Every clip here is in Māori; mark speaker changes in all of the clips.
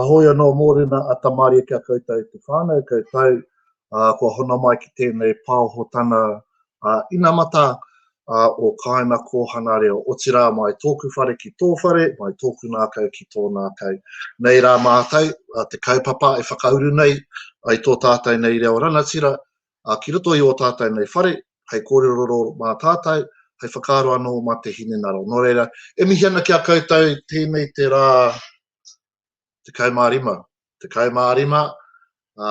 Speaker 1: Ahoy anō mōrena a Tamaria ki a koutou e te whānau kau tau, ā, kua hono mai ki tēnei pāohotana ā inamata, ā, o Kāina Kōhana Reo, otirā mai tōku whare ki tō whare, mai tōku ngākau ki tō ngākau. Nei rā mātou, ā, te kaupapa e whakauru nei, ai tō tātou nei reo rangatira, ā, ki roto i ō tātou nei whare, hei kōrerorero mā tātou, hei whakaaro anō mā te hinengaro. Nō reira, e mihi ana ki a koutou i tēnei te rā 15, 15, ā,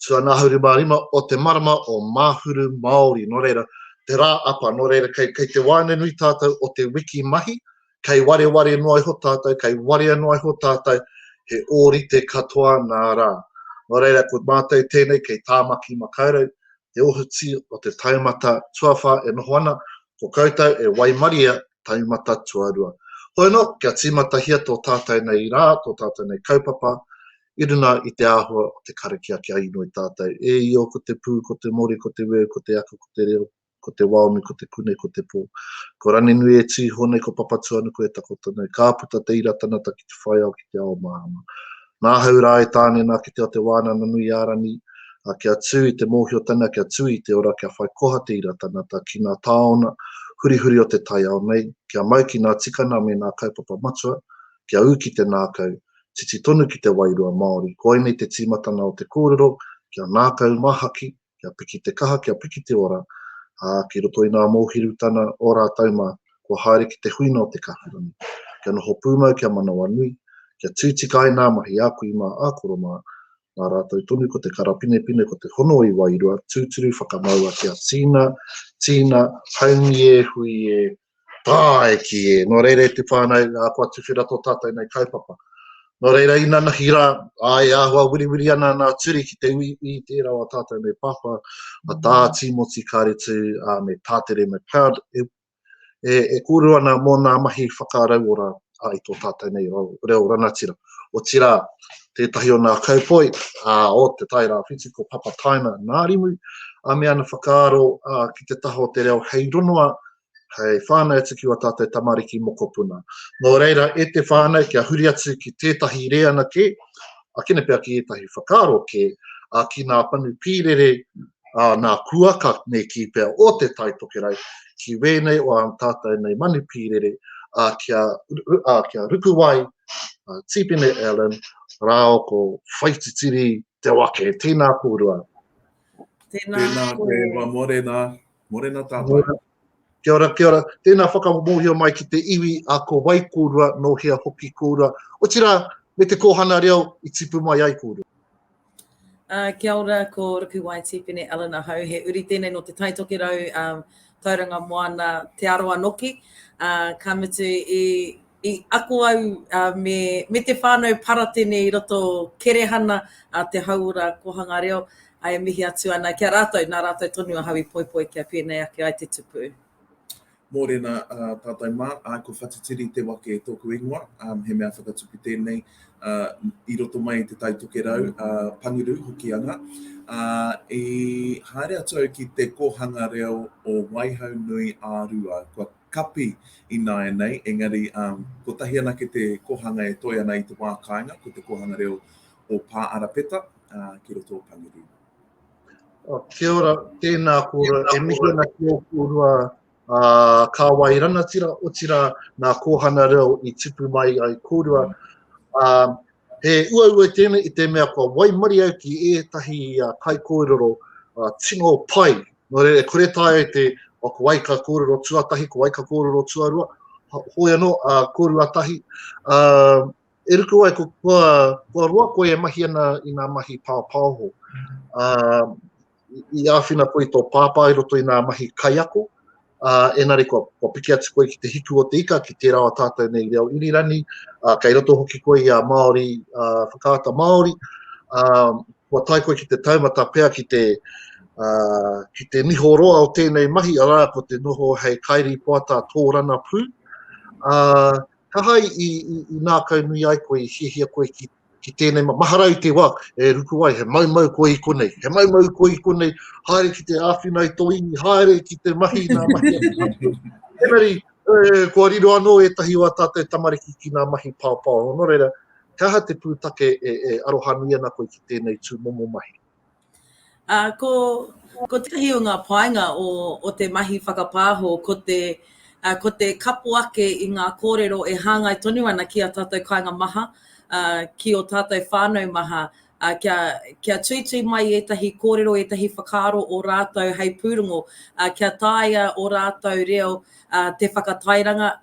Speaker 1: tuanahau 25 o te marama o Māhuru Māori. Nō reira, te rā apa, nō reira, kei, kei te waenganui tātou o te wiki mahi, kei wareware noa iho tātou, kei warea noa iho tātou, he ōrite katoa nā rā. Nō reira, ko mātou tēnei kei Tāmaki Makaurau, te ohuti o te taumata tuawhā e noho ana, ko koutou e waimaria taumata tuarua. Hoeno, kia tīmatahia tō tātou nei rā, tō tātou nei kaupapa, i runga i te āhua o te karakia kia inoi tātou. E Io, ko te pū, ko te mori, ko te weu, ko te ako, ko te reo, ko te waomi, ko te kune, ko te po. Ko Ranenui e tui iho nei, ko Papatuanuku e takoto nei. Ka puta te ira tanata ki te whaiao, ki te ao mahama. Na ahau ra e tane na ki te ao te Wanana nui a Rani, a kia tu i te mohiotanga, kia tu i te ora, kia whai koha te ira tanata ki na taona hurihuri o te taiao nei, kia mau ki na tikana me na kaupapa matua, kia u ki te nakau, titi tonu ki te wairua Maori. Koinei te timatanga o te korero, kia nakau mahaki, kia piki te kaha, kia piki te ora, ā, ki roto i ngā mōhirutana o rātou mā, kua haere ki te huinga o te kahurangi, kia noho pūmau, kia manawanui, kia tūtika ai ngā mahi a kui mā, a koro mā, nā rātou tonu ko te karapinepine, ko te hono i wairua, tūturu whakamaua, kia tīna, tīna, haumi e, hui e, Tāiki e, nō reira e te whānau, ā, kua tuwhera tō tātou nei kaupapa. Nō reira, inanahi rā, ā, e āhua wiriwiri ana nā Turi ki te uiui i tērā o tātou nei pāpā, a Tā Tīmoti Kāretu, ā, me Tātere McLeod, e, e, e kōrua ana mō nā mahi whakarauora i tō tātou nei reo rangatira. Otirā, tētahi o nā kaupoi o Te Tai Rāwhiti ko Papa Taina Nārimu, a me ana whakaaro ki te taha o te reo hei rongoa, hei whānau atu ki wā tātou tamariki mokopuna. Nō reira, e te whānau, kia huri atu ki tētahi rēana kē, a kina pea ki ētahi whakaaro kē, a ki nā panu pīrere ā nā kuaka nei kī pea o Te Tai Tokerau ki wēnei o ā tātou nei manu pīrere ā kia ā kia Rukuwai, ā Tīpene Allen rāo ko Whaititiri Te Wake. Tēnā kōrua.
Speaker 2: Tēnā koe Ewa, morena, morena tātou. Kia ora,
Speaker 1: kia ora. Tēnā whakamōhio mai ki te iwi a ko wai kōrua, nō hea hoki kōrua, otirā me te kōhana reo i tipu mai ai kōrua.
Speaker 3: Kia ora, ko Ruku Wai Tipene Allan ahau, he uri tēnei nō Te Tai Tokerau, Tauranga Moana, Te Arawa nōki. Ka mutu i ako au me te whānau Paratene i roto o Kerehana, te hauora Kōhanga Reo, e mihi atu ana ki a rātou, nā rātou tonu ahau i poipoi kia pēnei ake ai te tupu. Mōrena
Speaker 2: tātou mā, āe ko Whatitiri te wake tōku ingoa, he mea whakatupu tēnei i roto mai i te Tai Tokerau, Pangiru, Hokianga. I haere atu au ki te kōhanga reo o Waihau nui a Rua, kua kapi ināianei, engari kotahi anake te kōhanga e toe ana i te wā kāinga, ko te kōhanga reo o Pāarapeta ki roto o Pangiru. Oh,
Speaker 1: kia ora, tēnā kōra, e mihi ana ki o kōrua a uh, Kāwai Ranatira, otira nā Kōhana Reo i tipu mai ai kōrua. Uh, he uaua tēnei i te mea kua waimari au ki ētahi uh, kai kōrero uh, tino pai. Nō re, e kore tāe te o ko wai ka kōrero tuatahi, ko wai ka kōrero tuarua, hoi anō, uh, kōrua tahi. Uh, E ruku ai, kua roa koe e mahi ana i ngā mahi pāpaoho. I āwhina koe i tō pāpā i roto i ngā mahi kaiako, engari kua piki atu koe ki te hiku o te ika, ki tērā o tātou nei reo irirani, kei roto hoki koe i a Māori, Whakaata Māori, kua tae koe ki te taumata pea ki te ki te niho roa o tēnei mahi, arā, ko te noho hei kairīpoata tōrana pū. Kawhai i nākau nui ai koe, i hiahia koe ki tēnei mā, mahara i te wā e ruku ai, he maumau koe i konei, he maumau koe i konei, haere ki te āwhina i tō iwi, haere ki te mahi nā mahi atu. Engari, kua riro anō ētahi o ā tātou tamariki ki ngā mahi paopao, nō reira, he aha te pūtake e arohanui ana koe ki tēnei tūmomo mahi? Ā, ko,
Speaker 3: ko tētahi o ngā painga o, o te mahi whakapāho, ko te, ā, ko te kapo ake i ngā kōrero e hāngai tonu ana ki ā tātou kāinga maha, ā, ki ō tātou whānau maha, ā, kia, kia tuitui mai i ētahi kōrero, ētahi whakaaro o rātou hei pūrongo, ā, kia taea ō rātou reo, ā, te whakatairanga,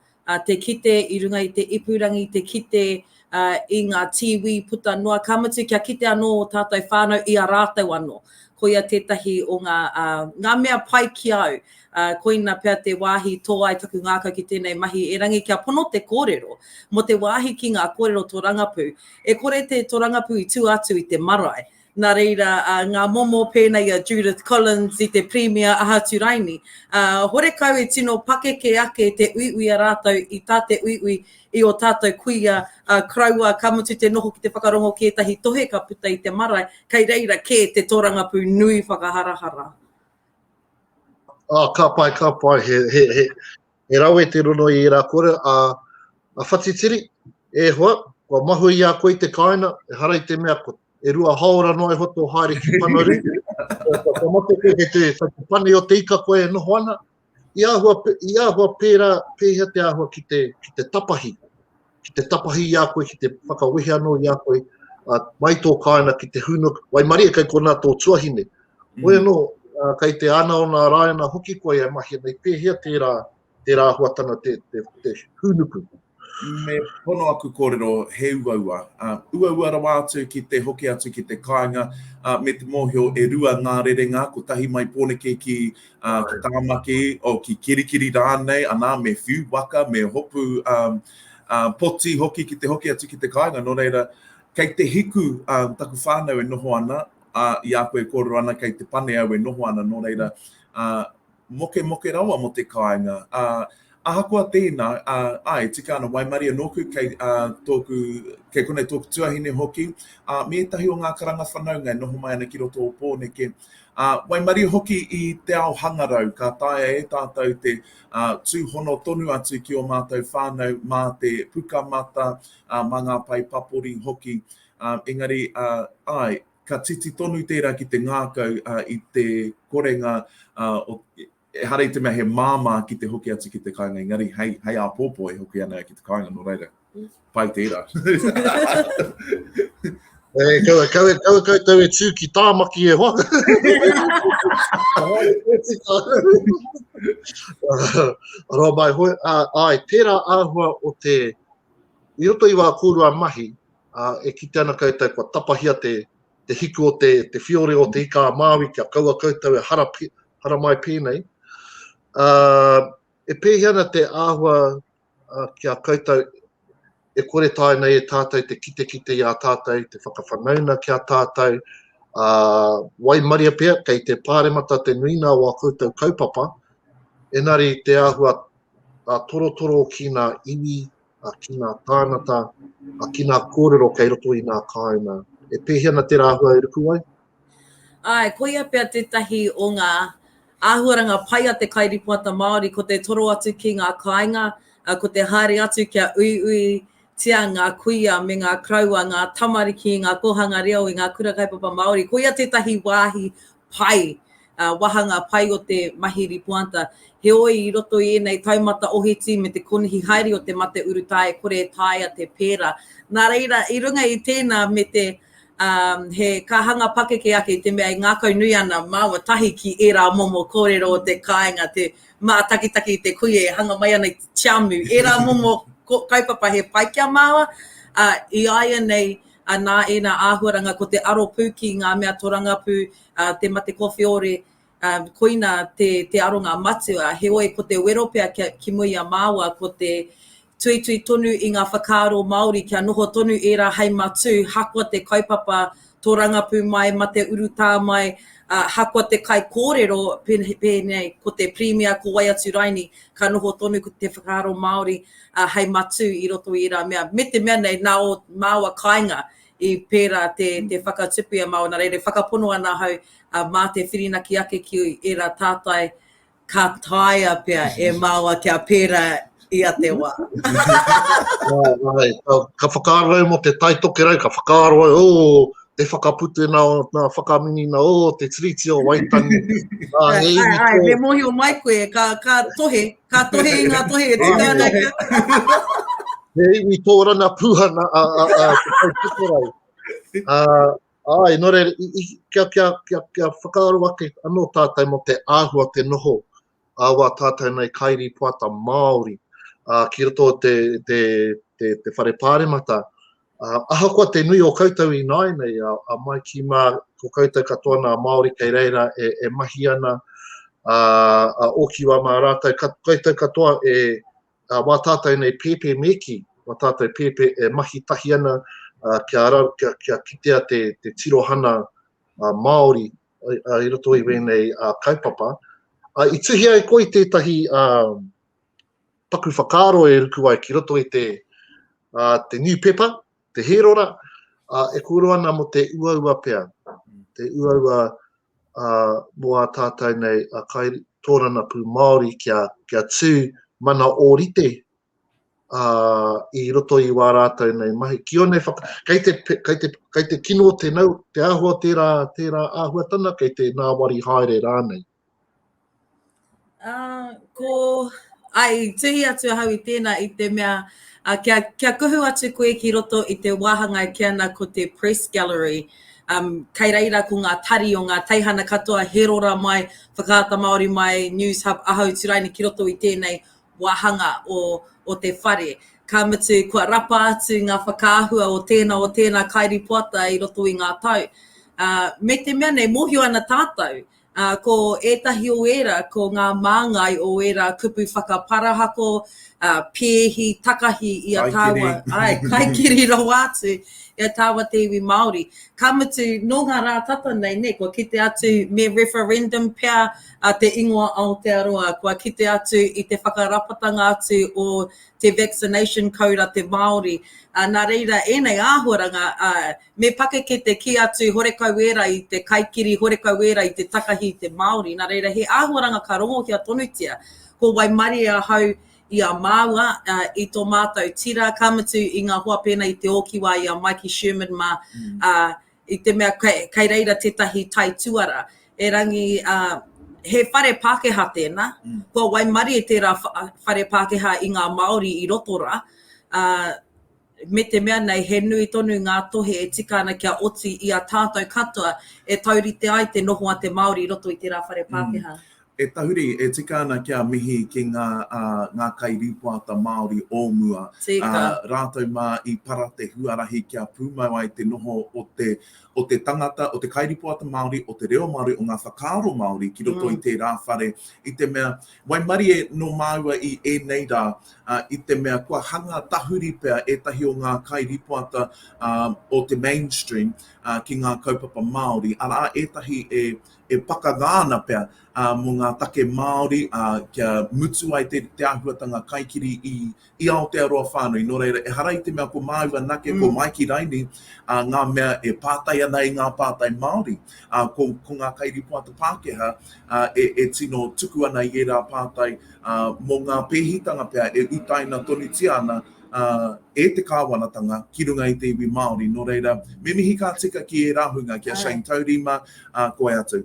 Speaker 3: te kite i runga i te ipurangi, te kite i ngā tīwī puta noa, ka mutu kia kite anō ō tātou whānau i a rātou anō. Koia tētahi o ngā, ngā mea pai ki a au. Koina pea te wāhi tō ai taku ngākau ki tēnei mahi, erangi kia pono te kōrero, mō te wāhi ki ngā kōrero tōrangapū, e kore te tōrangapū i tua atu i te marae, Nā reira, ngā momo pēnei i a Judith Collins i te Pirimia Ahaturaini, horekau i tino pakeke ake te uiui a rātou i tā te uiui i ō tātou kuia koroua, ka mutu te noho ki te whakarongo ki ētahi tohe ka puta i te marae, kei reira kē te tōrangapū nui whakaharahara.
Speaker 1: Ka pai, ka pai, he, he, he, He rawe te rono i era kore a Whatitiri, e hoa, kua mahue i a koe i te kaena, ehara i te mea ko e rua haora noa iho to haere ki Panarū, kua mate koe kei te whakapani o te ika koe e noho ana, i ahua, i ahua pera, pehea te ahua ki te, ki te tapahi. ki te tapahi i a koe, ki te whakawehe anō i a koe, uh, mai tō kāina ki te hūnuk, waimarie kei konā tō tuahine. Mm. Hoi anō, uh, kei te ana o nā rāina hoki koe e mahi nei, pēhea tērā, tērā huatanga te, te, te hūnuku? Me
Speaker 2: pono aku kōrero he uaua. Uh, uaua rawa atu ki te hoki atu ki te kāinga, uh, me te mōhio e rua ngā rerenga, ko tahi mai pōneke ki ā, ko Tāmaki, o, ki Kirikiri rānei, anā, me whiu waka, me hopu, ā, ā, poti hoki ki te hoki atu ki te kāinga, nō reira, kei te hiku, ā, taku whānau e noho ana, ā, i a koe e kōrero ana, kei te pane au e noho ana, nō reira, ā, mokemoke rawa mō te kāinga, ā, Ahakoa tēnā, ā, āe, tika ana, waimarie nōku kei, ā, tōku, kei konei tōku tuahine hoki, ā, me ētahi o ngā karanga whanaunga e noho mai ana ki roto o Pōneke, ā, waimarie hoki i te ao hangarau, ka taea e tātou te, ā, tūhono tonu atu ki ō mātou whānau mā te pukamata, ā, mā ngā pae papori hoki, ā, engari, ā, āe, ka titi tonu tērā ki te ngākau, ā, i te korenga, ā, o, Ehara i te mea he māmā ki te hoki atu ki te kāinga engari hei, hei āpōpō e hoki ana ia ki te kāinga nō reira, pai tērā.
Speaker 1: E, kau, kau, kau, kau tau e tū ki tāmaki e hoa. Arā mai hoi, ai, tērā āhua o te, i roto i wā kōrua mahi, a, e kite ana koutou kua tapahia te, te hiku o te whiore o Te Ika-a-Māui kia kaua koutou e haramai pēnei, ā, e pēhea ana te āhua ki a koutou e kore tae nei e tātou te kitekite i a tātou, te whakawhanauna ki a tātou, ā, waimaria pea kei te Pāremata te nuinga o a koutou kaupapa, engari te āhua torotoro ki ngā iwi ki ngā tāngata, ki ngā kōrero kei roto i ngā kāinga. E pēhi ana tērā āhua e ruku ai? Āe,
Speaker 3: koia pea tētahi o ngā āhuaranga pai a te kairīpoata Māori, ko te toro atu ki ngā kāinga, ko te haere atu kia uiuitia ngā kuia me ngā karaua, ngā tamariki, ngā kōhanga reo i ngā Kura Kaupapa Māori. Koia tētahi wāhi pai, wāhanga pai o te mahi ripoata. Heoi, i roto i ēnei taumata ohiti me te konihi haere o te mate urutā e kore e taea te pērā. Nā reira, i runga i tēnā me te he kāhanga pakeke ake i te mea e ngākau nui ana māua tahi ki ērā momo kōrero o te kāinga, te mātakitaki i te kuia e hanga mai ana i te tiamu, ērā momo kaupapa he pai ki a māua, ā, i āianei, nā ēnā āhuaranga ko te aro pū ki ngā mea torangapū, te mate kowheore, koina te aronga matua. Heoi, ko te wero pea ki mua i a māua ko te tuitui tonu i ngā whakaaro Māori kia noho tonu ērā hei matū, hakoa te kaupapa torangapū mai, mate urutā mai, hakoa te kaikōrero pēnei ko te Pirimia, ko wai atu raini, ka noho tonu te whakaaro Māori hei matū i roto i ērā mea, me te mea nei nā ō māua kāinga i pērā te whakatupu i a māua, nā reira e whakapono ana ahau mā te whirinaki ake ki ērā tātai ka taea pea e māua kia pērā i a te wā.
Speaker 1: Ka whakaaro au mō te Tai Tokerau, ka whakaaro au, oh, te whakaputunga o ngā whakaminenga, oh, te Tiriti o Waitangi. Ai,
Speaker 3: ai, me mōhio mai koe, ka tohe, Ka tohe
Speaker 1: i ngā tohe e tika ana ki a. He iwi tōrana pūhana a, a, a, a, a, ai, nore, i, i, kia, kia, kia, kia whakaaro ake anō tātou mo te āhua te noho a wā tātou nei kairi poata Māori a, ki roto te, te, te, te whare pāremata Ahakoa te nui o koutou i nāianei, a mai ki mā ko koutou katoa nā Māori kei reira e mahi ana, a oki wā mā rātou, koutou katoa e, wā tātou nei pēpē me kī, wā tātou pēpē e mahi tahi ana kia kitea te tirohana Māori i roto i wēnei kaupapa. I tuhia e koe tētahi paku whakaaro e ruku ai ki roto i te te new pepper, te hērora, a, e kōrero ana mo te uaua pea, te uaua a, mo a tātou nei a kai tōrana pū Māori kia, kia tū mana ōrite a, i roto i wā rātou nei mahi. Ki onei whaka, kei te, kei te, kei te kino te nau, te āhua tērā, tērā āhuatana, kei te nāwari haere rānei. Uh,
Speaker 3: ko, ai, tuhi atu ahau i tēnā i te mea, uh, kia, kia kuhu atu koe ki roto i te wāhanga e kia ana ko te press gallery, um, kei reira ko ngā tari o ngā teihana katoa, he rora mai, whakaata Māori mai, news hub, ahau turaina ki roto i tēnei wāhanga o, o te whare. Ka mutu, kua rapa atu ngā whakaahua o tēnā o tēnā kairipoata i roto i ngā tau. Uh, me te mea nei, mōhio ana tātou, ā, ko ētahi o ērā ko ngā māngai o ērā kupu whakaparahako, ā, pēhi, takahi i a tāua. Kaikiri. Āe, kaikiri rawa atu i a tāua te iwi Māori. Ka mutu, nō ngā rā tata nei, nē, kua kite atu me referendum pea a te ingoa Aotearoa, kua kite atu i te whakarapatanga atu o te vaccination koura te Māori. Ā, nā reira, ēnei āhuaranga, ā, Me pakeke te kī atu i Horekauēra, i te kaikiri Horekauēra, i te takahi i te Māori, nā reira he āhuaranga ka rongohia tonutia, ko waimarie ahau i a māua, i tō mātou tira, ka mutu i ngā hoa pēnei i te ōkiwā i a Maiki Sherman mā, i te mea kei reira tētahi taituara, erangi he whare Pākehā tēnā, kua waimarie tērā whare Pākehā i ngā Māori i roto rā, me te mea nei he nui tonu ngā tohe e tika ana kia oti i a tātou katoa e taurite ai te noho a te Māori i roto i tērā whare Pākehā. E tahuri, e
Speaker 2: tika ana kia mihi ki ngā, ā, ngā kairīpoata Māori o mua, ā, rātou mā i para te huarahi kia pūmau ai te noho o te, o te tangata, o te kairīpoata Māori, o te reo Māori, o ngā whakaaro Māori ki roto i tērā whare, i te mea, Waimarie nō māua i ēnei rā, i te mea kua hanga tahuri pea ētahi o ngā kairīpoata o te mainstream ki ngā kaupapa Māori, arā, ētahi e pakanga ana pea mō ngā take Māori kia mutu ai te āhuatanga kaikiri i Aotearoa whānui, nō reira, ehara i te mea ko māu anake, ko Maiki Raini, ā, ngā mea e pātai ana i ngā pātai Māori, ā, ko, ko ngā kairīpoata Pākehā, ā, e, e tino tuku ana i ērā pātai, ā, mō ngā pēhitanga pea e utaina tonutia ana, ā, e te Kāwanatanga ki runga i te iwi Māori, nō reira, me mihi ka tika ki ērā hunga, ki a Shane Taurima, ā, koe atu.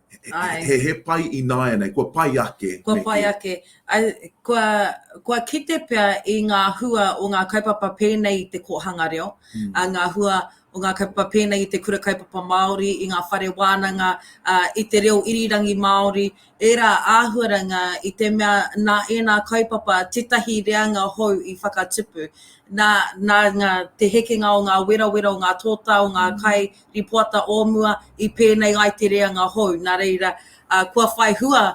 Speaker 2: Ae. He, he pai ināianei, kua pai ake. Kua pai ake.
Speaker 3: Kua, kua kite pea i ngā hua o ngā kaupapa pēnei i te kōhanga reo, ā, ngā hua o ngā kaupapa pēnei i te Kura Kaupapa Māori, i ngā whare wānanga, ā, i te reo irirangi Māori, ērā āhuaranga i te mea nā ēnā kaupapa tētahi reanga hou i whakatupu. Nā, nā ngā, te hekenga o ngā werawera, o ngā tōtā, o ngā kai, I poata o mua, i pēnei ai te reanga hou, nā reira, kua whai hua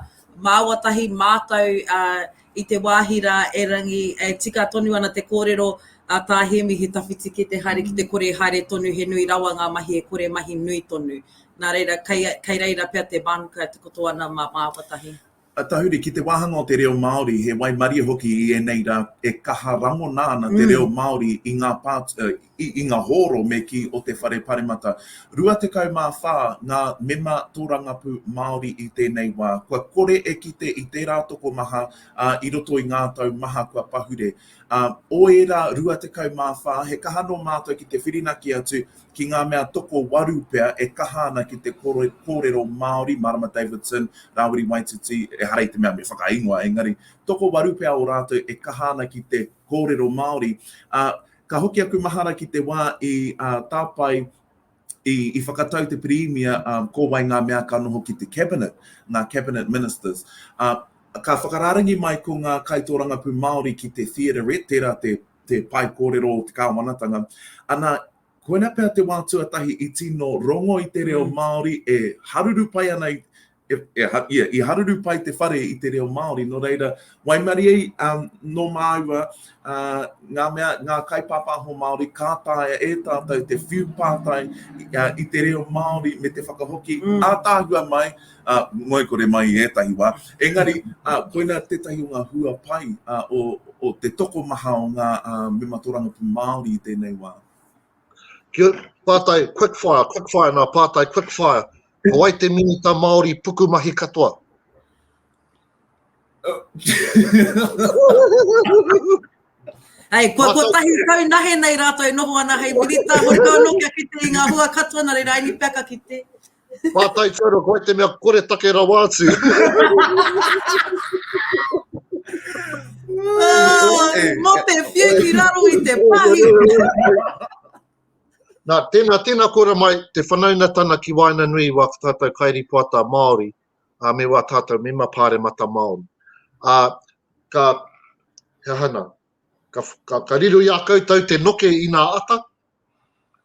Speaker 3: māua tahi mātou i te wāhi rā erangi e tika tonu ana te kōrero a Tā Hēmi he tawhiti kē te haere ki te kore e haere tonu he nui rawa ngā mahi e kore mahi nui tonu. Nā reira, kei reira pea te mānuka e takoto ana mā māua tahi. A tahuri, ki te
Speaker 2: wāhanga o te reo Māori, he waimarie hoki i ēnei rā, e kaha rangona ana te reo Māori i ngā pātua, i ngā hōro me kī o te Whare Paremata. 24 ngā mema tōrangapū Māori i tēnei wā. Kua kore e kite i tērā tokomaha, ā, i roto i ngā tau maha kua pahure. Ā, o ērā 24, he kaha nō mātou ki te whirinaki atu ki ngā mea tokowaru pea e kaha ana ki te kōrero Māori, Marama Davidson, Rāwiri Waititi, ehara i te mea me whakaingoa, engari, tokowaru pea ō rātou e kaha ana ki te kōrero Māori, ā, ka hoki aku mahara ki te wā i tāpae, i whakatau te Pirīmia ko wai ngā mea ka noho ki te Cabinet, ngā Cabinet Ministers. Ā, ka whakarārangi mai ko ngā kaitōrangapū Māori ki te Theaterette, tērā te te pae kōrero o te kāwanatanga. Ana, koinā pea te wā tuatahi i tino rongo i te reo Māori, e haruru pai ana i, e, e, ia, i haruru pai te whare i te reo Māori, nō reira, waimarie um, nō māua uh, ngā mea, ngā kaipāpāho Māori, kā tāia e tātou te whiu pātai uh, i te reo Māori me te whakahoki mm. ātāhua mai, ngoikore mai i ētahi wā. Engari, koina tētahi o ngā hua pai o te tokomaha o ngā mema tōrangapū Māori i tēnei wā. Kia
Speaker 1: ora. Pātai quick fire, quick fire nā pātai quick fire. Ko wai te minita Māori pukumahi katoa?
Speaker 3: Hei, kua kotahi tau nahe nei rātou e noho ana hei minita, hore kau anō kia kite i ngā hua katoa, nā reira, I need peaka kite. Mātai Toro,
Speaker 1: koe te mea kore take rawa atu.
Speaker 3: Ah, mō te whiu ki raro i te pahi.
Speaker 1: Nā, tēnā, tēnā kora mai te whanaunatana ki waina nui i wā tātou kairi poata Māori, a me wā tātou mema pāremata Māori. A, ka, he hana, ka, ka, ka riro i a koutou te noke i nā ata,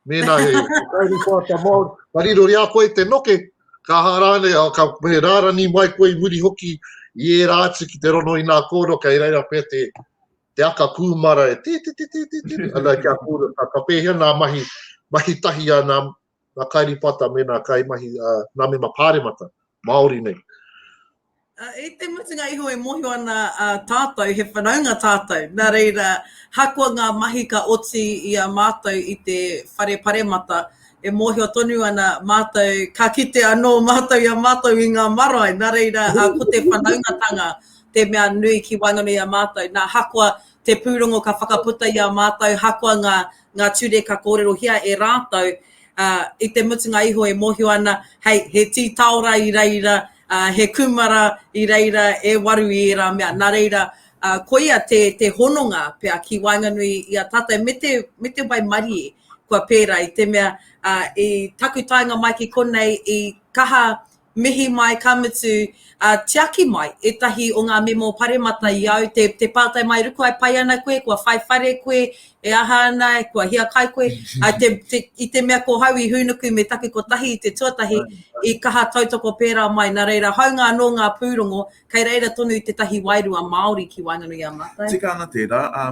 Speaker 1: Mēnā he whakairi whāta Māori ka riro i a koe te noke, ka aha rānei, ka me rārani mai koe i muri hoki i ērā atu ki te rono inā kōrero kei reira pea te te aka kūmara e tī tī tī tī tī tī, ana kia kūrero, ka pēhea nā mahi, mahi tahi a nā, nga kairipata me na kaimahi a na mema paremata Maori nei.
Speaker 3: I te mutunga iho e mohio ana a tatou he whanaunga tatou, na reira hakoa nga mahi ka oti i a matou i te whare paremata e mohio tonu ana matou ka kite ano matou i a matou i nga marae na reira ko te whanaungatanga te mea nui ki waenganui i a matou na hakoa te purongo ka whakaputa i a matou hakoa nga ngā ture ka kōrerohia e rātou, ā, i te mutunga iho e mōhio ana, hei, he tī taora i reira, ā, he kūmara i reira, e waru i ērā mea. Nā reira, ā, koia te, te hononga pea ki waenganui i a tātou me te, me te waimarie kua pērā, i te mea, ā, i taku taenga mai ki konei, i kaha Mihi mai ka mutu, ā, tiaki mai ētahi o ngā memo paremata i au, te, te pātai mai, Ruku ai, pai ana koe, kua whai whare koe, e aha ana, kua hiakai koe? Ā, te, te, i te mea ko hau i hūnuku me taku kotahi i te tuatahi, i kaha tautoko pērā mai, nā reira, hāunga anō ngā pūrongo, kei reira tonu tētahi wairua Māori ki waenganui i a mātou. Tika ana tērā, ā,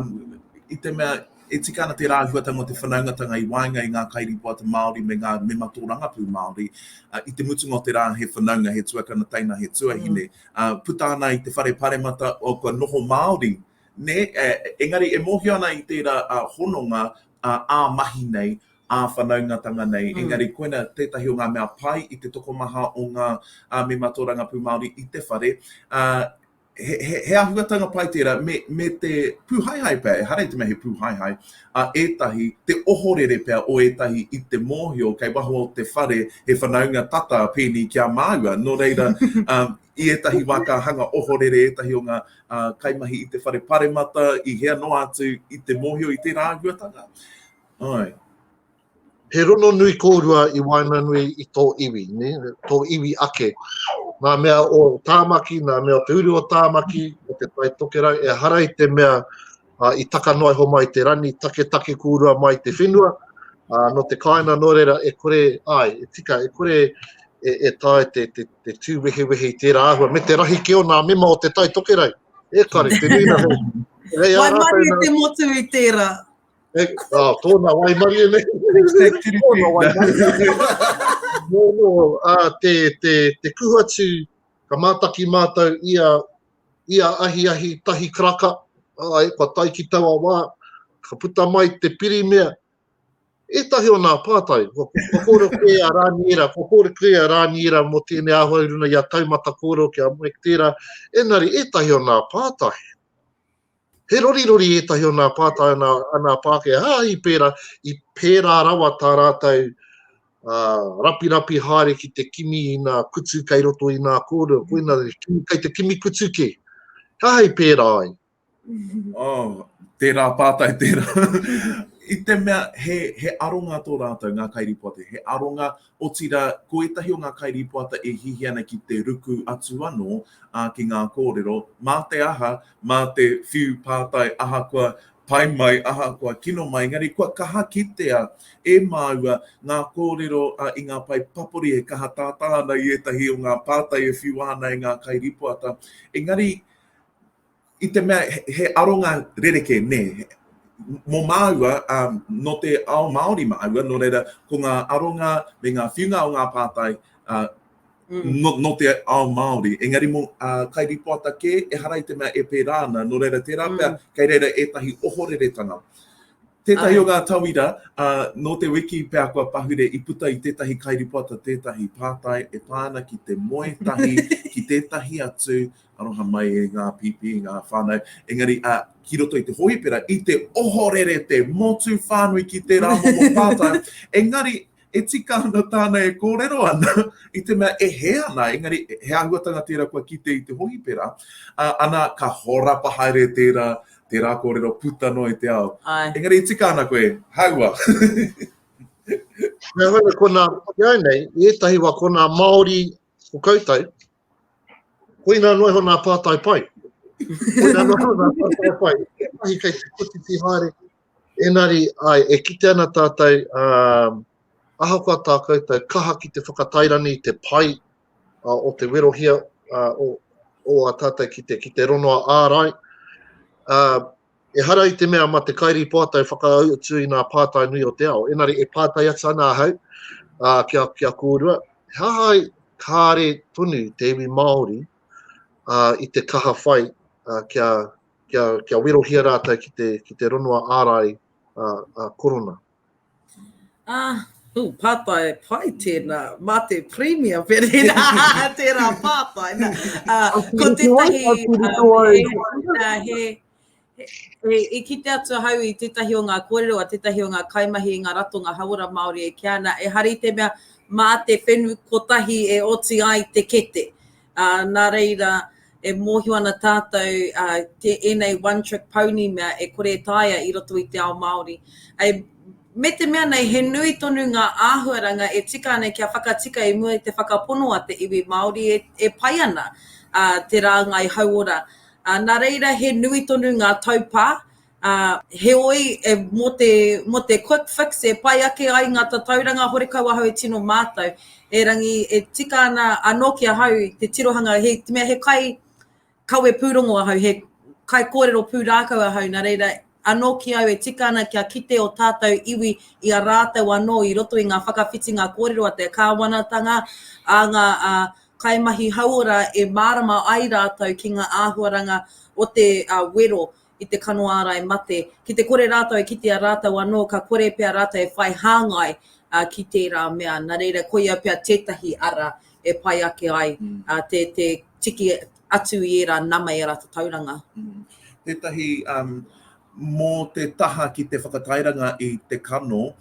Speaker 2: i te mea, E tika ana tērā āhuatanga o te whanaungatanga i waenga i ngā kairīpoata Māori me ngā mema tōrangapū Māori. I te mutunga o te rā he whanaunga, he tuakana teina, he tuahine, puta ana i te whare paremata kua noho Māori, nē? Engari e mōhio ana i tērā hononga ā mahi nei, ā whanaungatanga nei, engari koina tētahi o ngā mea pai i te tokomaha o ngā mema tōrangapū Māori i te whare, He āhuatanga pai tērā, me te pūhaehae pea, ehara i te mea he pūhaehae, a ētahi, te ohorere pea o ētahi i te mōhio kei waho o te whare he whanaunga tata a pēnei ki a māua. Nō reira, i ētahi wā ka hanga ohorere ētahi o ngā kaimahi i te whare paremata, i hea noa atu i te mōhio i tērā āhuatanga. Āe.
Speaker 1: He rononui kōrua i waenganui i tō iwi, ne? tō iwi ake. Nā mea o Tāmaki, nā mea o te uru o Tāmaki, o te Tai Tokerau, e hara i te mea uh, i taka noa iho mai te rani, taketake kūrua mai te whenua, uh, no te kāina nō reira e kore, ai, e tika, e kore e, e tae te, te, te tū wehewehe i tērā ahua, me te rahi ke o nā mema o te Tai Tokerau. E kare,
Speaker 3: te
Speaker 1: nuina
Speaker 3: hei. Hei ā rātou
Speaker 1: nā... Mai
Speaker 3: mai e te
Speaker 1: motu
Speaker 3: i
Speaker 1: tērā. Hey, oh, tōna waimarie nei. Hashtag tiripi. Tōna waimarie. Nō, nō, uh, te, te, te kuhatu, ka mātaki mātou i a, i a ahi ahi tahi karaka, ai, kua tai ki taua wā, ka puta mai te pirimea, e tahi o nā pātai, ko, ko kōre kē a Rāniera, ko kōre kē a Rāniera mō tēnei āhua i runa i a Taumata Kōro ki a Mike Tēra, enari, e tahi o nā pātai. He rorirori ētahi o nā pātai o nā, a nā Pākehā, hāhi pērā, i pērā rawa tā rātou uh, rapirapi haere ki te kimi i nā kutu kei roto i nā kōrero, koina kei te kimi kutu kē. Hāhi pērā ai. Oh, tērā
Speaker 2: pātai, tērā. I te mea, he, he aronga tō rātou, ngā kairipoate, he aronga Otirā, ko ētahi o ngā kairīpoata e hihi ana ki te ruku atu anō, ā, ki ngā kōrero, mā te aha, mā te whiu pātai ahakoa pai mai, ahakoa kino mai, engari kua kaha kitea e māua ngā kōrero i ngā pae papori e kaha tātā ana i ētahi o ngā pātai e whiua ana e ngā kairīpoata. Engari. I te mea he aronga rerekē, nē. Mō māua, nō te ao Māori māua, nō reira, ko ngā aronga me ngā whiunga o ngā pātai nō te ao Māori. Engari mō kairīpoata kē, ehara i te mea e pērā ana, nō reira, tērā pea, kei reira ētahi ohoreretanga. Tētahi o ngā tauira, ā, nō te wiki pea kua pahure i puta i tētahi kairipota tētahi pātai e pā ana ki te moe tahi ki tētahi atu, aroha mai e ngā pīpī, e ngā whānau, engari, ā, ki roto i te hōhipera, i te ohorere te motu whānui ki tērā momo pātai, engari, e tika ana tāna e kōrero ana, i te mea e hē ana, engari he āhuatanga tērā kua kite i te hōhipera, ā, ana, ka horapa haere tērā, tērā kōrero puta noa i te ao. Āe. Engari i tika ana koe, hāua.
Speaker 1: Nā reira, ko nā, ki au nei, i ētahi wā, ko nā Māori o koutou, Koina noa iho nā pātai pai. Koina noa iho nā pātai pai. E mahi kei te kotiti haere. Enari, ai, e kite ana tātou, uh, ahakoa tā koutou kaha ki te whakatairani i te pai uh, o te werohia uh, o, o a tātou ki te, ki te ronoa ārai, uh, Ehara i te mea ma te kairīpoata e whakautu i nā pātai nui o te ao, enari e pātai atu ana ahau ki a kōrua, he aha ai kāre tonu te iwi Māori i te kaha whai kia werohia rātou ki te ronoa ārai korona? Ah,
Speaker 3: Ooh, pātai pai tēnā, mā te Premier Pereira, tērā pātai. Nā, uh, ko tētahi, uh, he, he, e kite atu hau i tētahi o ngā kōrero, a tētahi o ngā kaimahi i ngā ratonga hauora Māori e kia ana, e hari te mea, mā te whenu kotahi e oti ai te kete. Nā reira, e mōhio ana tātou ēnei one trick pony mea e kore e taea i roto i te ao Māori. Me te mea nei he nui tonu ngā āhuaranga e tika ana kia whakatika i mua i te whakapono a te iwi Māori e pai ana te rāngai hauora. Nā reira, he nui tonu ngā taupā Ā, heoi, e, mō te, mō te quick fix e pai ake ai ngā tatauranga horekau ahau e tino mātau, erangi e tika ana anō ki ahau te tirohanga, he, te mea he kai kawe pūrongo ahau, he kai kōrero pūrākau ahau, nā reira, anō ki au e tika ana kia kite ō tātau iwi i a rātau anō i roto i ngā whakawhitinga kōrero a te kāwanatanga, a ngā, ā, kaimahi hauora e mārama ai rātau ki ngā āhuaranga o te, ā, wero i te kano ārai mate, ki te kore rātou e kitea rātou anō ka kore pea rātou e whai hāngai ki tērā mea. Nā reira, koia pea tētahi ara e pai ake ai te tiki atu i ērā nama, i ērā tatauranga. Tētahi,
Speaker 2: mō te taha ki te whakatairanga i te kano,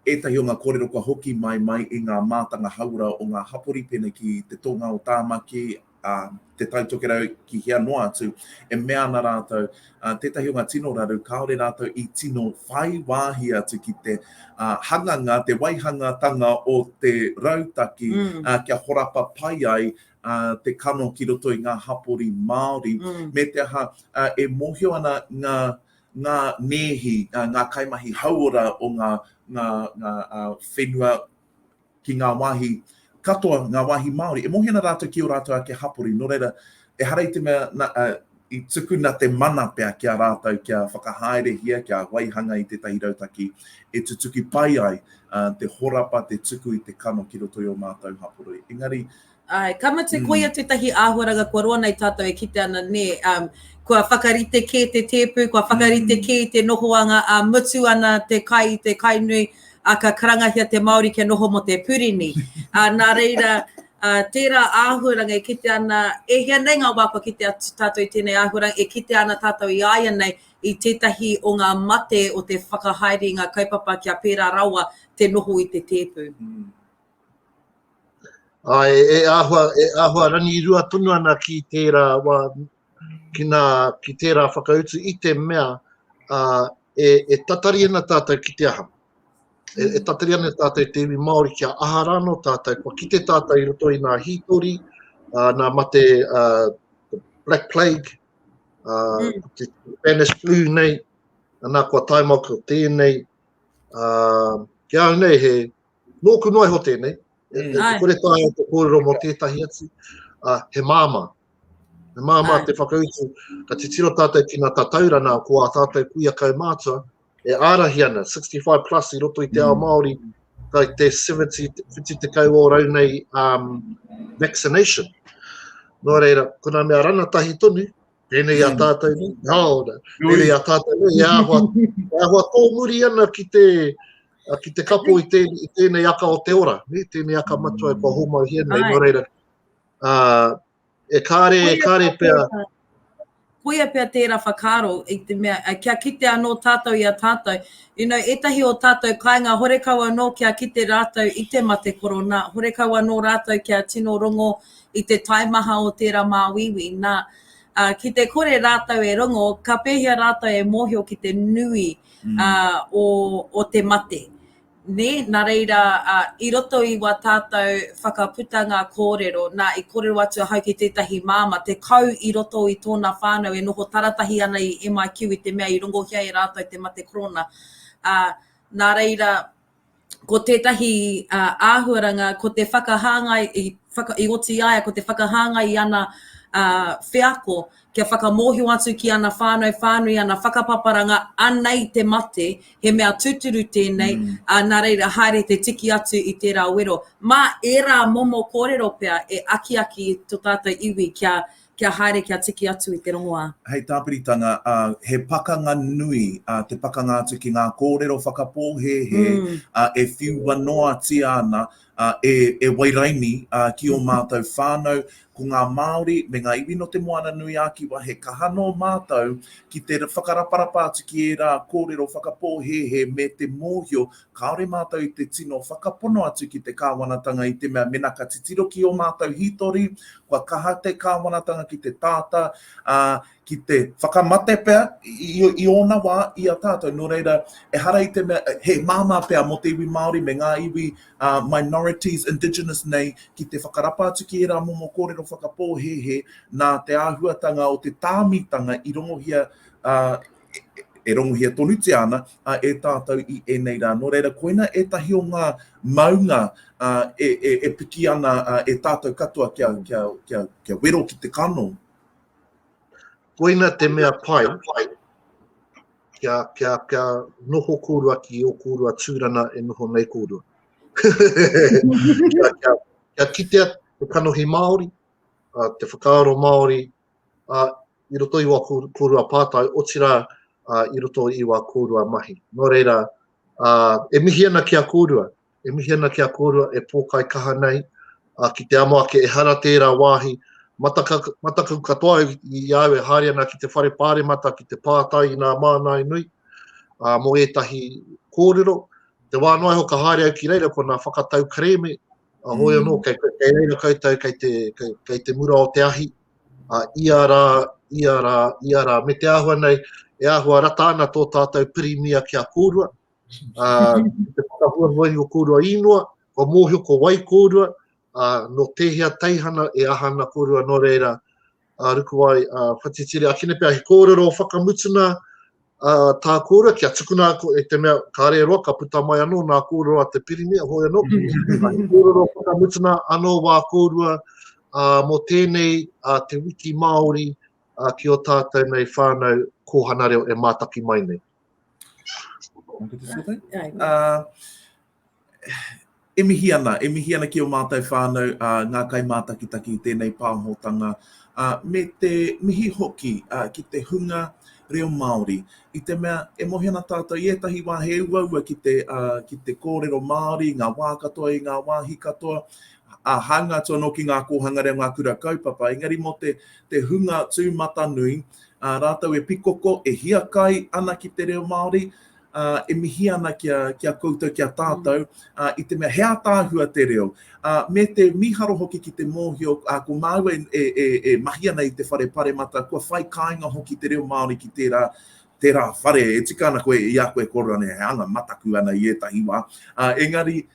Speaker 2: ētahi o ngā kōrero kua hoki mai, mai i ngā mātanga hauora o ngā hapori pēnei ki te tōnga o Tāmaki, ā, Te Tai Tokerau ki hea noa atu, e mea ana rātou, ā, tētahi o ngā tino raru kāore rātou i tino whai wāhi atu ki te, ā, hanganga, te waihangatanga o te rautaki, ā, kia horapa pai ai, ā, te kano ki roto i ngā hapori Māori, me te aha, ā, e mōhio ana ngā, ngā nēhi, ā, ngā kaimahi hauora o ngā, ngā, ngā, ā, whenua, ki ngā wāhi katoa, ngā wāhi Māori, e mōhena rātou ki ō rātou ake hapori, nō reira, ehara i te mea, nā, i tukuna te mana pea ki a rātou kia whakahaerehia, kia waihanga i tētahi rautaki e tutuki pai ai te horapa, te tuku i te kano ki roto i ō mātou hapori. Engari, Ae, ka mate,
Speaker 3: koia tētahi āhuaranga kua roa nei tātou e kite ana, nē, um, kua whakarite kē te tēpu, kua whakarite mm. kē te nohoanga a mutu ana te kai, te kai nui, a ka karangahia te Māori kia noho mo te purini. a, nā reira, a, tērā āhuaranga e kite ana, e hea nei ngā wā kua kite atu tātou i tēnei āhuaranga, e kite ana tātou i aia nei i tētahi o ngā mate o te whakahaere i ngā kaupapa kia pērā rawa te noho i te tēpu. Mm.
Speaker 1: Āe, e āhua, e āhua rangirua tonu ana ki tērā wā, ki, nā, ki tērā whakautu i te mea ā, e, e tatari ana tātou ki te aha. E, e tatari ana tātou te iwi Māori kia aha rāno tātou, kua kite tātou i roto i nā hītori, ā, nā mate ā, Black Plague, ā, mm. te Spanish Flu nei, anā kua taimau ko tēnei, ā, kia au nei he, Nōku noa iho tēnei, e, e, e kore tāia te kōrero mō tētahi atu, uh, he māmā. He māmā te whakautu, ka titiro tātou ki nā tataurana ko ā tātou kuia kaumātua, e ārahi ana, 65 plus i roto i te mm. ao Māori, ka te 70, 50 te kau o rau nei um, vaccination. Nō reira, kuna mea rana tahi tonu, Tēnei a tātou nei, nā ora. Tēnei a tātou nei, e āhua, e āhua tōmuri ana ki te, ki te kapo i, tē, i tēnei aka o te ora, ne? tēnei aka matua e kua hōmau hia nei, nō reira. Uh, e kāre, e kāre pia.
Speaker 3: Koia pia tērā whakaro, i te mea, kia kite anō tātou i a tātou. You know, etahi o tātou kāinga, horekau anō kia kite rātou i te mate korona, horekau anō rātou kia tino rongo, i te taimaha o tērā māuiui, nā, ki te kore rātou e rongo, ka pēhea rātou e mōhio ki te nui o te mate? Nē, nā reira, i roto i wā tātou whakaputanga kōrero, nā, i kōrero atu ahau ki tētahi māmā, te kau i roto i tōna whānau e noho taratahi ana i MIQ i te mea i rongohia e rātou te mate korona, nā reira, ko tētahi āhuaranga, ko te whakahāngai, i oti ai ko te whakahāngai i ana wheako kia whakamōhio atu ki ana whānau whānui, ana whakapaparanga, anei te mate, he mea tūturu tēnei, mm. nā reira haere te tiki atu i tērā wero. Mā ērā momo kōrero pea e akiaki to tātou iwi kia Kia haere kia tiki atu i te rongoā. Hei tāpiritanga,
Speaker 2: ā, he pakanga nui, ā, te pakanga atu ki ngā kōrero whakapōhēhē, ā, e whiua noatia ana, ā, e, e Wairaini, ā, ki ō mātou whānau, ko ngā Māori me ngā iwi nō Te Moana-nui-ā-Kiwa, he kaha nō mātou ki te whakaraparapa atu ki ērā kōrero whakapōhēhē me te mōhio Kāore mātou i te tino whakapono atu ki te Kāwanatanga i te mea mena ka titiro ki ō mātou hītori, kua kaha te Kāwanatanga ki te tāta, ā, ki te whakamate pea i ōna wā i a tātou. Nō reira, ehara i te mea he māmā pea mō te iwi Māori me ngā iwi minorities, indigenous nei, ki te whakarapa atu ki ērā momo kōrero whakapōhēhē nā te āhuatanga o te tāmitanga i rongohia e ronguhia tonutia ana e tātou i ēnei rā. Nō reira, koina ētahi o ngā maunga e, e, e piki ana e tātou katoa kia, kia, kia, kia wero ki te kano.
Speaker 1: Koina te mea pai, kia, kia, kia noho kōrua ki o kōrua tūrana e noho nei kōrua. kia, kia, kia kitea te kanohi Māori, te whakaaro Māori, i roto i wā kōrua pātai, otirā i roto i wā kōrua mahi. Nō reira, e mihi ana ki a kōrua, e mihi ana ki a kōrua e pōkai kaha nei, ki te amo ake ehara tērā wāhi, mataku katoa au i a au e haere ana ki te whare pāremata ki te pātai i nā mānāe nui, mō ētahi kōrero. Te wā noa iho ka haere au ki reira ko nā whakatau kerēme A hoi anō, kei, kei reira koutou, kei te, kei, kei te mura o te ahi, a ia rā, ia rā, ia rā, me te āhua nei, e āhua rata ana tō tātou pirimia ki a kōrua, a, te whakahua hoi o kōrua īnoa, kua mōhio ko wai kōrua, a, no tēhea teihana e aha ana kōrua, nō reira, a Rukuwai, a Whatitiri, a kine pea he kōrero whakamutuna a tā kōrua kia tukuna ko e te mea kāre roa ka puta mai anō nā kōrero a te Pirimia hoi anō. he kōrero whakamutuna anō wā kōrua a, mō tēnei a te wiki Māori a ki o tātou nei whānau kōhana reo e mātaki mai nei.
Speaker 2: E mihi ana, e mihi ana ki ō mātou whānau, ngā kaimātakitaki i tēnei pāhotanga, me te mihi hoki ki te hunga reo Māori, i te mea e mohi ana tātou i ētahi wā he uaua ki te kōrero Māori, ngā wā katoa i ngā wāhi katoa, a hanga atu anō ki ngā kōhanga reo, ngā kura kaupapa, engari mō te, te hunga tūmatanui, ā, rātou e pikoko, e hiakai ana ki te reo Māori, ā, e mihi ana ki a, ki a koutou, ki a tātou, ā, i te mea he ātaahua te reo, ā, me te mīharo hoki ki te mōhio, ā, ko māua e, e, e, e mahi ana i te whare paremata, kua whai kāinga hoki te reo Māori ki tērā, tērā whare e tika ana koe, i a koe e kōrero ana he anga mataku ana i ētahi wā, ā, engari,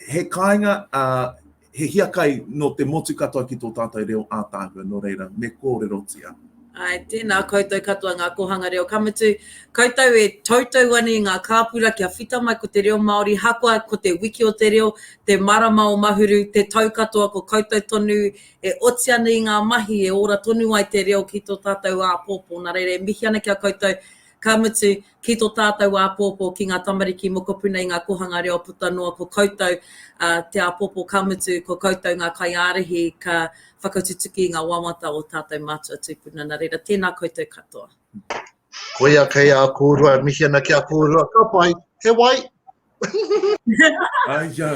Speaker 2: He kāinga, ā, he hiakai nō te motu katoa ki tō tātou reo ātaahua, nō reira, me kōrerotia. Āe, tēnā
Speaker 3: koutou katoa ngā kōhanga reo, ka mutu, koutou e toutou ana i ngā kāpura kia whita mai ko te reo Māori, hakoa ko te wiki o te reo, te marama o Mahuru, te tau katoa ko koutou tonu e oti ana i ngā mahi e ora tonu ai te reo ki tō tātou āpōpō, nā reira e mihi ana ki a koutou, ka mutu, ki tō tātou āpōpō, ki ngā tamariki mokopuna i ngā kōhanga reo puta noa, ko koutou te āpōpō ka mutu, ko koutou ngā kaiārahi ka whakatutuki i ngā wawata o tātou mātua tūpuna, nā reira, tēnā koutou katoa. Koia
Speaker 1: kei a kōrua, e mihi ana ki a kōrua, ka pai, he wai! Aija!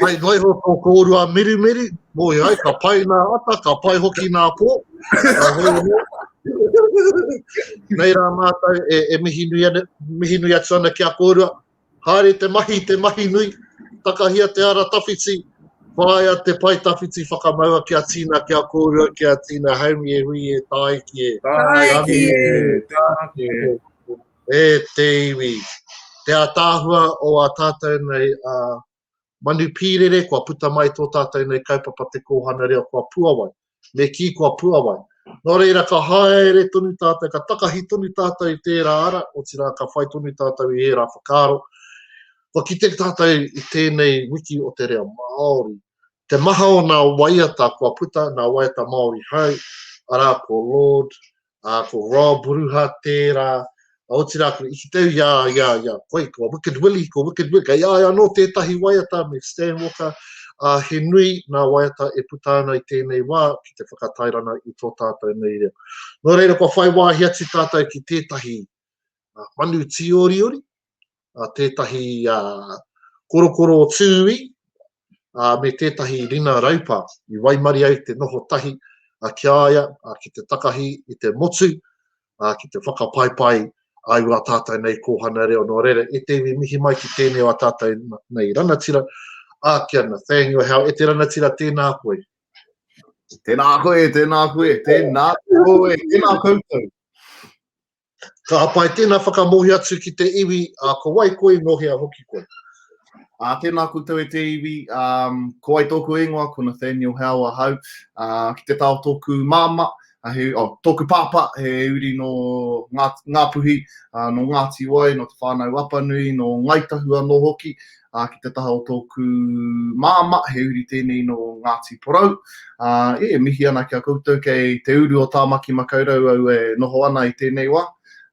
Speaker 1: Pai noa iho tō kōrua mirimiri, moe ai, ka pai nā ata, ka pai hoki nā pō. Nei rā mātou e, e mihi, nui ana, mihi nui atu ana ki a kōrua. Haere te mahi, te mahi nui, takahia te ara tawhiti, whāia te pae tawhiti whakamaua ki a Tina, ki a kōrua, ki a Tina Haumi e hui e tāiki e. Tāiki e, tāiki
Speaker 3: e. E
Speaker 1: te iwi, te ātaahua o ā tātou nei manu pīrere kua puta mai i tō tātou nei kaupapa Te Kōhanga Reo kua puawai, me kī kua puawai. Nō reira ka haere tonu tātou, ka takahi tonu tātou i tērā ara, otirā ka whai tonu tātou i ērā whakaaro. Kua kite tātou i tēnei wiki o te reo Māori, te maha o ngā waiata kua puta, ngā waiata Māori hou, arā ko Lord ā, ko Rob Ruha tērā, otirā kua iti tau i a, i a, i a, koi, ko Wicked Willie, ko Wicked Willie, kei a ia anō tētahi waiata me Stan Walker, ā, he nui nā waiata e puta ana i tēnei wā ki te whakatairana i tō tātou nei reo. Nō reira, kua whai wāhi atu tātou ki tētahi manu tīoriori, a tētahi korokoro o Tūī, a me tētahi rina raupa i waimarie ai te noho tahi ki a ia ki te takahi i te motu ki te whakapaipai ai wā tātou nei kōhana reo. Nō reira, e te iwi mihi mai ki tēnei wā tātou nei rangatira, a ki a Nathaniel Howe, e te rangatira tēnā koe. Tēnā
Speaker 4: koe, tēnā koe, tēnā koe, tēnā koutou.
Speaker 1: Ka hapa ai tēnā whakamohi atu ki te iwi, ā, ko wai koe, nō hea hoki koe? Ā, tēnā
Speaker 4: koutou e te iwi, ā, ko wai tōku ingoa, ko Nathaniel Howe ahau, ā, ki te tā o tōku māmā, he, oh, tōku pāpā, he uri nō Ngā, Ngāpuhi, ā, nō Ngāti Wai, nō Te Whānau Apanui, nō Ngai Tahu anō hoki, ā, ki te taha o tōku māmā, he uri tēnei nō Ngāti Porou. Ā, e, e mihi ana ki a koutou kei te uru o Tāmaki Makaurau au e noho ana i tēnei wā.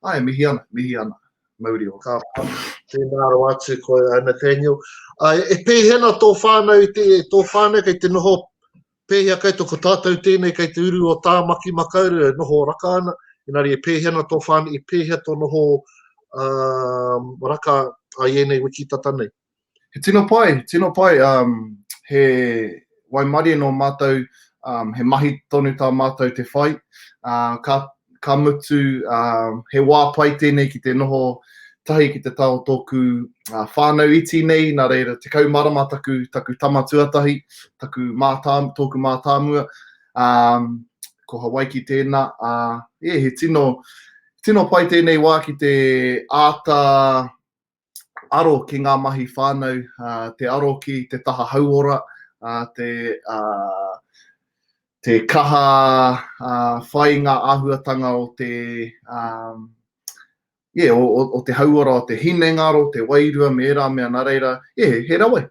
Speaker 4: Ā, e mihi ana, mihi ana. Mauri ō. Ka pai. Tēnā
Speaker 1: rawa atu koe, Nathaniel. Ā, e pēhena tō whānau, tō whānau kei te noho Pēhea kei tō ko tātou tēnei kei te uru o Tāmaki Makaurau e noho raka ana, engari e pēhea ana tō whānau, e pēhea tō noho um, raka ai ēnei wiki tata nei? He tino pai,
Speaker 4: tino pai, um, he waimarie nō mātou, um, he mahi tonu tā mātou te whai, uh, ka, ka mutu, uh, he wā pai tēnei ki te noho tahi ki te tao tōku uh, whānau iti nei, nā reira te kaumarama taku, taku tama tuatahi, taku mātā, tōku mātāmua, um, ko Hawaiki tēnā, uh, yeah, he tino, tino pai tēnei wā ki te āta aro ki ngā mahi whānau, te aro ki te taha hauora, te kaha whai i ngā āhuatanga o te, yeah, o te hauora o te hinengaro, te wairua me ērā mea nā reira, yeah, he rawe.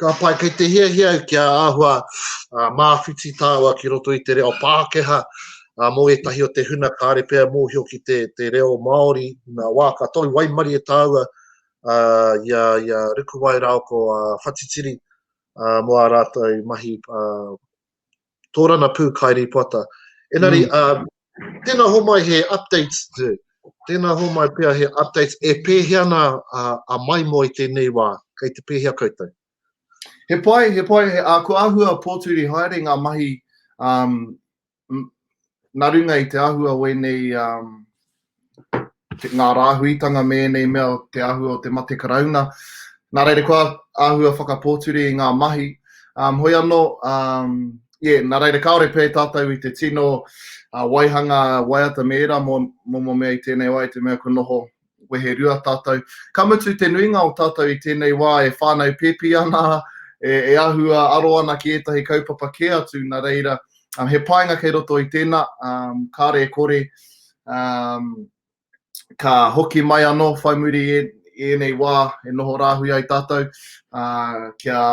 Speaker 4: Ka
Speaker 1: pai, kei te hiahia au kia āhua uh, māwhiti tāua ki roto i te reo Pākehā uh, mō ētahi o te huna kāre pea mōhio ki te, te reo Māori nā wā ka tau waimari e tāua uh, ia, ia Rukuwai Raoko uh, Whatitiri uh, mō ā rātou mahi uh, Torana Pū Kairīpoata. Engari, tēnā homai he updates, tēnā homai pea he updates, e pēhea ana a Maimo i tēnei wā, kei te pēhea koutou? He
Speaker 4: pai, he pai, ko āhua pōturi haere ngā mahi nā runga i te āhua o ēnei ngā rāhuitanga me ēnei mea o te āhua o te mate Karauna. Nā reira kua āhua whakapōture i ngā mahi. Um, hoi anō, um, yeah, nā reira kāore pē tātou i te tino uh, waihanga waiata me ērā mō, mō, mō mea i tēnei wā, i te mea kua noho wehe rua tātou. Ka mutu te nuinga o tātou i tēnei wā e whānau pēpi ana, e, e āhua aro ana ki ētahi kaupapa kē atu, nā reira, Um, he painga kei roto i tēnā, um, kāre e kore, um, ka hoki mai anō, whai muri e, e ēnei wā e noho rāhui ai tātou, uh, kia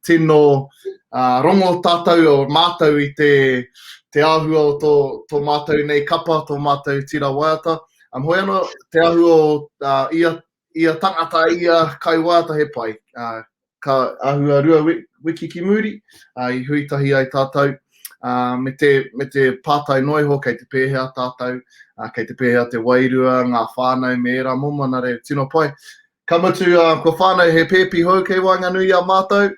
Speaker 4: tino uh, rongo tātou o mātou i te, te āhua o tō, tō mātou nei kapa, tō mātou tira waiata. Um, hoi anō, te āhua o uh, ia Ia tangata ia kai wāta he pai. Ka āhua rua wiki ki muri, i hui tahi ai tātou me te pātai noa iho kei te pēhea tātou, kei te pēhea te wairua, ngā whānau me ērā momonare tino pai. Ka mutu kua whānau he pēpi hou kei waenganui i a mātou,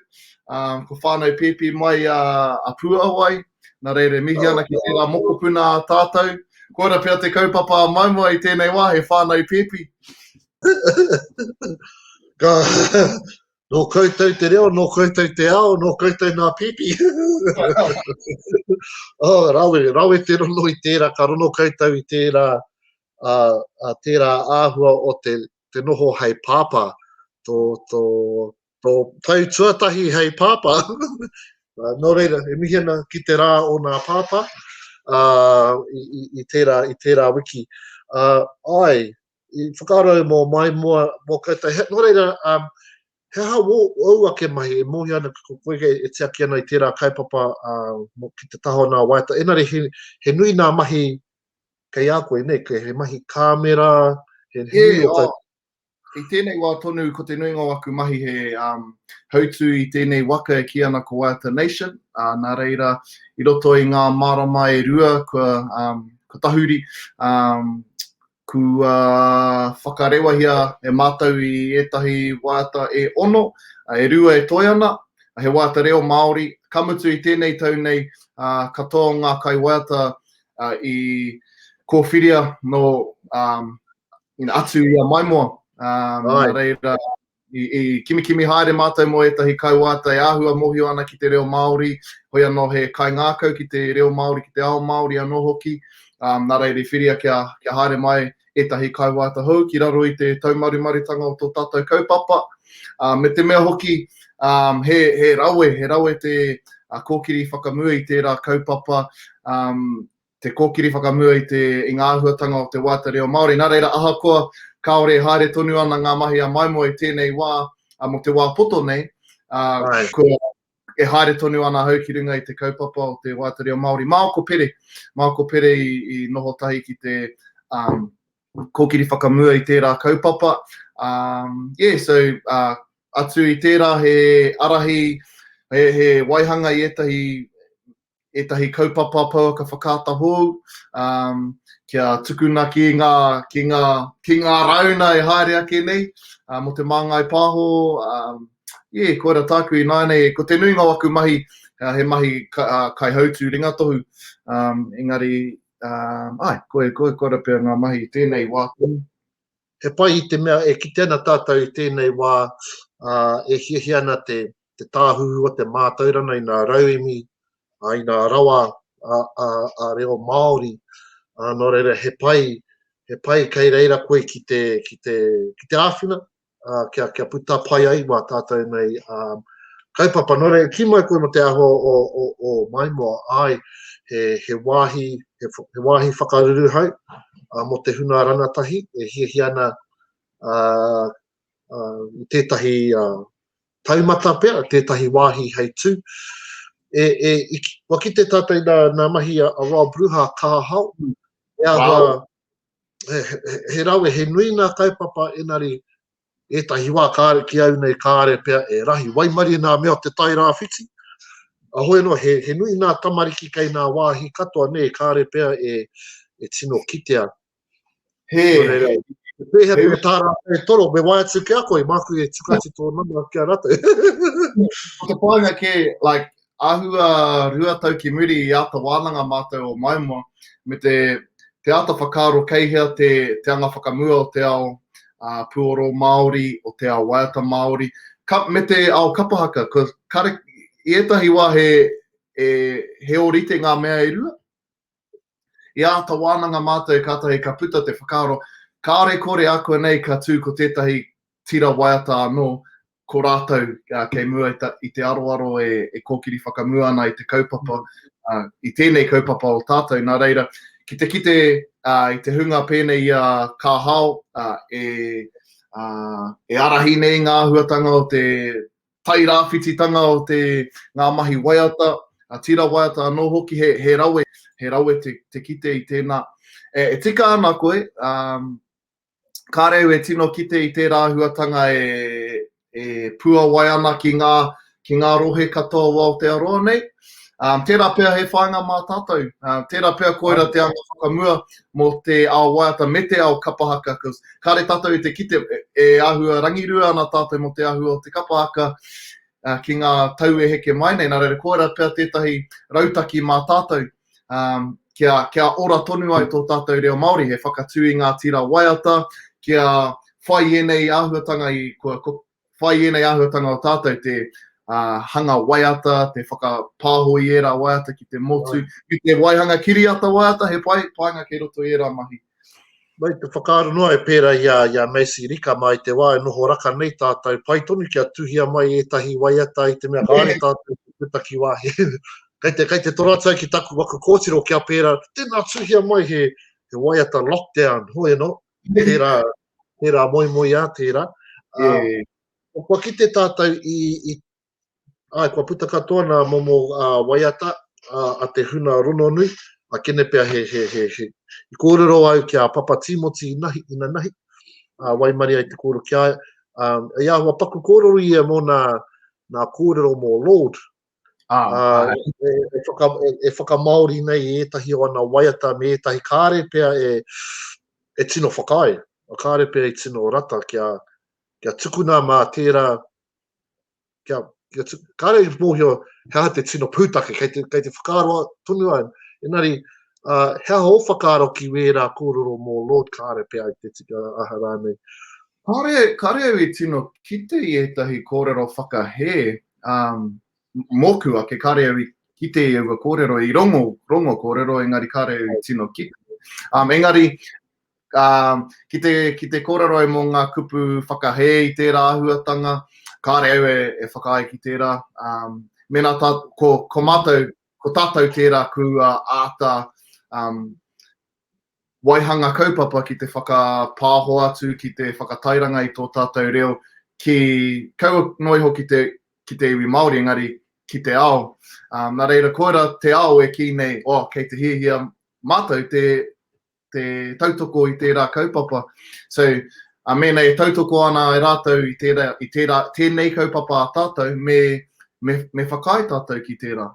Speaker 4: kua whānau pēpi mai a Puawai, Nā reira, e mihi ana ki tērā mokopuna a tātou. Koira pea te kaupapa a Maumau i tēnei wā, he whānau pēpi.
Speaker 1: Ka, nō koutou te reo, nō koutou te ao, nō koutou nā pēpi. oh, rawe, rawe te rono i tērā, ka rono koutou i tērā, a, a tērā āhua o te, te noho hei pāpā, tō, tō, tō tau tuatahi hei pāpā, uh, nō reira, e mihi ana ki te rā o nā pāpā uh, i, i, i, tērā, i tērā wiki. Uh, ai, i whakaaro mō mai mua mō koutou. He, nō reira, um, he aha wō, wō ake mahi e mōhio ana ko koe e, e tiaki ana i tērā kaupapa uh, ki te taho nā waita. Enare, he, he nui nā mahi kei a koe, nei, he mahi kāmera, he, he yeah, nui o oh, I tēnei
Speaker 4: wā tonu ko te nuinga o aku mahi he hautū i tēnei waka e kī ana ko Waiata Nation, nā reira i roto i ngā marama e rua kua tahuri kua whakarewahia e mātou i ētahi waiata e ono, e rua e toe ana, he waiata reo Māori, ka mutu i tēnei tau nei katoa o ngā kaiwaiata i kōwhiria nō atu i a Maimoa, nā reira i kimikimi haere mātou mō ētahi kauāta e āhua mōhio ana ki te reo Māori, hoi anō he kaingākau ki te reo Māori, ki te ao Māori anō hoki, nā reira i whiria kia haere mai ētahi kaiwāata hou ki raro i te taumarumarutanga o tō tātou kaupapa, ā, me te mea hoki, ā, he, he rawe, he rawe te kōkiri whakamua i tērā kaupapa, ā, te kōkiri whakamua i te, i ngā āhuatanga o te wāata reo Māori. Nā reira, ahakoa kāore e haere tonu ana ngā mahi a Maimoe i tēnei wā, ā, mō te wā poto nei, ā, kua, E haere tonu ana ahau ki runga i te kaupapa o te waiata reo Māori. Māo ko Pere, māo ko Pere i noho tahi ki te kōkiri whakamua i tērā kaupapa. Yeah, so atu i tērā he arahi, he waihanga i ētahi ētahi kaupapa pouaka whakaata hou, um, kia tukuna ki ngā, ki ngā, ki ngā rauna e haere ake nei, uh, mo te māngai pāho, um, yeah, koira tāku i nāinei, ko te nuinga o aku mahi, uh, he mahi ka, uh, kai hautū ringatohu, um, engari, um, ai, koe, koe, koe rapea ngā mahi tēnei wā. He
Speaker 1: pai i te mea e kite ana tātou i tēnei wā, uh, e hiahia ana te, te tāhuhu o te mātaurana i ngā rauemi, ā, i ngā rawa a, a, a reo Māori, ā, nō reira he pai, he pai kei reira koe ki te, ki te, ki te āwhina, ā, kia, kia puta pai ai mā tātou nei ā, kaupapa. Nō reira, ki mai koe mō te āhua o, o, o Maimoa, ai, he, he wāhi, he, he wāhi whakaruruhau, ā, mō te hunga rangatahi e hiahia ana, ā, uh, i tētahi uh, taumata pea, tētahi wāhi hei tū. E, e, i, wa ki te tātai nā, nā mahi a, a Rob Ruha Kahahao, mm. e a wow. he, he, he rawe, he nui nā kaupapa enari e tahi wā kāre ki au nei kāre pea e rahi waimari nā mea te tai rāwhiti. A hoi no, he, he nui nā tamariki kei nā wāhi katoa nei kāre pea e, e tino kitea He. Nō reira, he pēhea te tā rātou e toro, me wae atu ki a koe, māku e tuku atu tō nama ki a rātou. Ko
Speaker 4: te pānga kē, like, āhua rua tau ki muri i āta wānanga mātou o Maimoa, me te, te āta whakaaro kei hea te, te anga whakamua o te ao uh, puoro Māori, o te ao waiata Māori, ka, me te ao kapahaka, ko, kare, i ētahi wā he, e, he ōrite ngā mea e rua, I āta wānanga mātou kātahi ka puta te whakaaro, kāore kore ākuanei ka tū ko tētahi tira waiata anō, ko rātou kei mua i te aroaro e kōkiri whakamua ana i te kaupapa, i tēnei kaupapa o tātou. Nā reira, ki te kite i te hunga pēnei i a Ka Hao, e ārahi nei ngā āhuatanga o te tairāwhititanga o te, ngā mahi waiata, tira waiata anō hoki, he, he rawe, he rawe te, te kite i tēnā. E, e tika ana koe, ā, ka reu e tino kite i tērā āhuatanga e, e puawai ana ki ngā, ki ngā rohe katoa o Aotearoa nei, Um, tērā pea he whāinga mā tātou, uh, tērā pea koira te anga whakamua mō te ao waiata me te ao kapahaka, because kāre tātou i te kite e, e āhua rangirua ana tātou mō te āhua o te kapahaka uh, ki ngā tau e heke mai nei, nā reira koira pea tētahi rautaki mā tātou um, kia, kia ora tonu ai tō tātou reo Māori, he whakatū i ngā tira waiata, kia whai ēnei āhuatanga i kua, whai ēnei āhuatanga o tātou te uh, hanga waiata, te whakapāho i ērā waiata ki te motu, ki te waihanga kiriata waiata, he pai, painga kei roto i ērā mahi. Mai te
Speaker 1: whakaaro noa e pērā i a, i a Macy Rika mai te wā e noho raka nei tātou, pai tonu kia tuhia mai ētahi waiata i te mea kāre yeah. tātou ki te taki wāhi. kei te, kei te toratai ki taku waku kōtiro kia pērā, tēnā tuhia mai he, he waiata lockdown, hoi anō, Tērā, tērā moemoeā, tērā. Yeah. Um, kua kite tātou i, i ai, kua puta katoa nā momo uh, waiata uh, a te huna rononui, a kene pea he, he, he, he, i kōrero au ki a Papa Timoti i nahi, ina nahi, uh, waimari ai te kōrero ki a, um, i ahua paku kōrero ia mō nā, nā kōrero mō Lord, e whakamaori nei i ētahi o ana waiata me ētahi kāre pea e tino whakaae, kāre pea i tino rata kia tukuna mā tērā, kāre i mōhio he aha te tino pūtake, kei te whakaaro tonu au, engari he aha ō whakaaro ki wērā kōrero mō Lord kāre pea i te tika aha rānei? Kāre
Speaker 4: au i tino kite i ētahi kōrero whakahē Mōku ake, kāre au i kite i aua kōrero, i rongo, rongo kōrero, engari kāre au i tino kite. Engari, ki te, ki te kōrero au mō ngā kupu whakahē i tērā āhuatanga, kāre au e whakaae ki tērā, mēnā tā, ko, ko mātou, ko tātou tērā kua āta, waihanga kaupapa ki te whakapāho atu, ki te whakatairanga i tō tātou reo, ki, kaua noa iho ki te, ki te iwi Māori, engari ki te ao. Nā reira, koirā te ao e kī nei, oh, kei te hiahia mātou te, te tautoko i tērā kaupapa. So, mēnā e tautoko ana ai rātou i tērā, i tērā, tēnei kaupapa a tātou, me, me, me whakaae tātou ki tērā.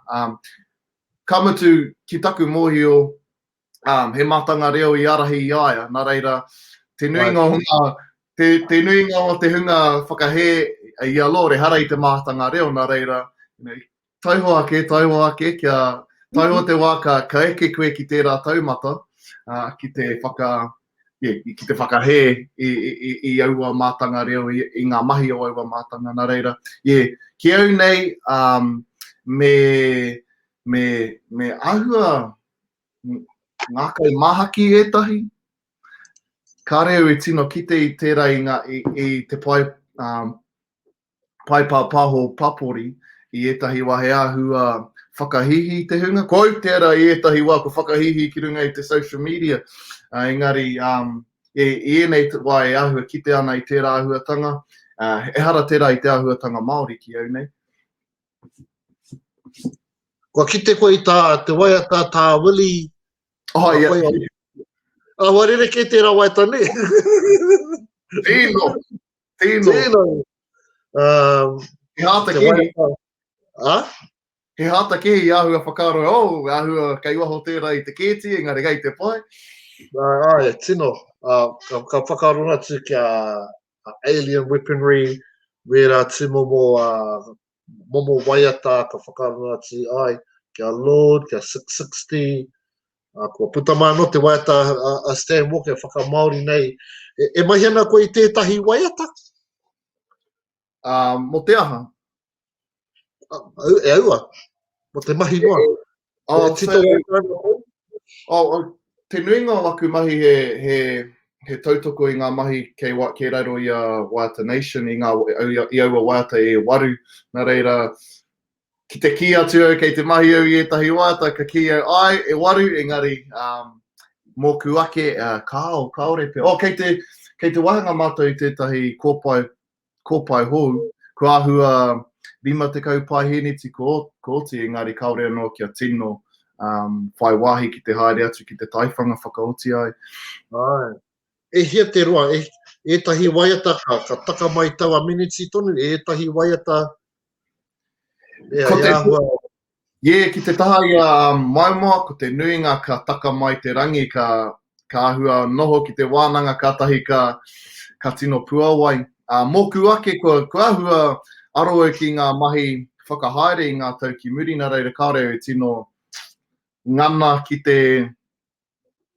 Speaker 4: Ka mutu, ki taku mōhio, um, he matanga reo i arahi i a ia, na reira, te nuinga o nga, te, te nuinga o te hunga whakahē i a Lore, hara i te mātanga reo, na reira, you know, taiho ake, taiho ake, kia taiho te wā ka, ka eke koe ki tērā taumata, uh, ki te whaka, yeah, ki te whakahē i, i, i aua mātanga reo, i, i ngā mahi o aua mātanga, na reira, yeah, ki au nei, um, me, me, me ahua, ngā kai māhaki ētahi, kāre au e tino kite i tērā i ngā, i te pae, um, pae pāpāho papori i ētahi wā he āhua whakahīhī te hunga. Ko au tērā i ētahi wā ko whakahīhī ki runga i te social media, uh, engari um, e, i ēnei wā e āhua kite ana i tērā āhuatanga, uh, ehara tērā i te āhuatanga Māori ki au nei.
Speaker 1: Kua kite koe i tā te waiata tā Willie. Oh, ia.
Speaker 4: Yeah. Awa
Speaker 1: rere kei tērā waiata ne. Tino.
Speaker 4: Tino. Tino.
Speaker 1: Um,
Speaker 4: He hāta kiri. Ha? He hāta kiri i āhua whakaro, o, oh, āhua kei waho tērā i te kēti, engari kei te pai. Ai,
Speaker 1: tino. Uh, ka, ka whakaro atu kia, alien weaponry, wērā tūmomo momo waiata ka whakarongo atu ai, kia Lord, kia Six Sixty, kua puta mai anō te waiata a Stan Walker whakamāori nei, e, e mahi ana koe i tētahi waiata? Ā,
Speaker 4: mō te aha?
Speaker 1: Ah, au- e aua, mo te mahi noa. Oh, E tito
Speaker 4: so- rātou ana hou. Oh, oh, te nuinga o aku mahi he, he, he tautoko i ngā mahi kei, wa, kei raro i a Waiata Nation, i, ngā, au- i, i aua waiata e waru. Nā reira, ki te kī atu au kei te mahi au i ētahi waiata, ka kī au, ai, e waru, engari, um, mōku ake, uh, kāo, kāore pea. Oh, kei te, kei te wāhanga mātou i tētahi kōpae ko pae hou, ko ahua 50 pae hēneti ko, ko oti, engari kaore anō kia tino um, whai wāhi ki te haere atu ki te taiwhanga whakaoti ai. Ai.
Speaker 1: E hia te roa, e, ētahi waiata ka, ka taka mai taua miniti tonu, ētahi waiata e, ko te, ahua,
Speaker 4: Ye, ki te taha i a Maumau, ko te nuinga ka taka mai te rangi, ka ahua noho ki te wānanga kātahi ka ka tino puawai. Ā, mōku ake kua ahua aro au ki ngā mahi whakahaere i ngā tau ki muri, nā reira kāore au e tino ngana ki te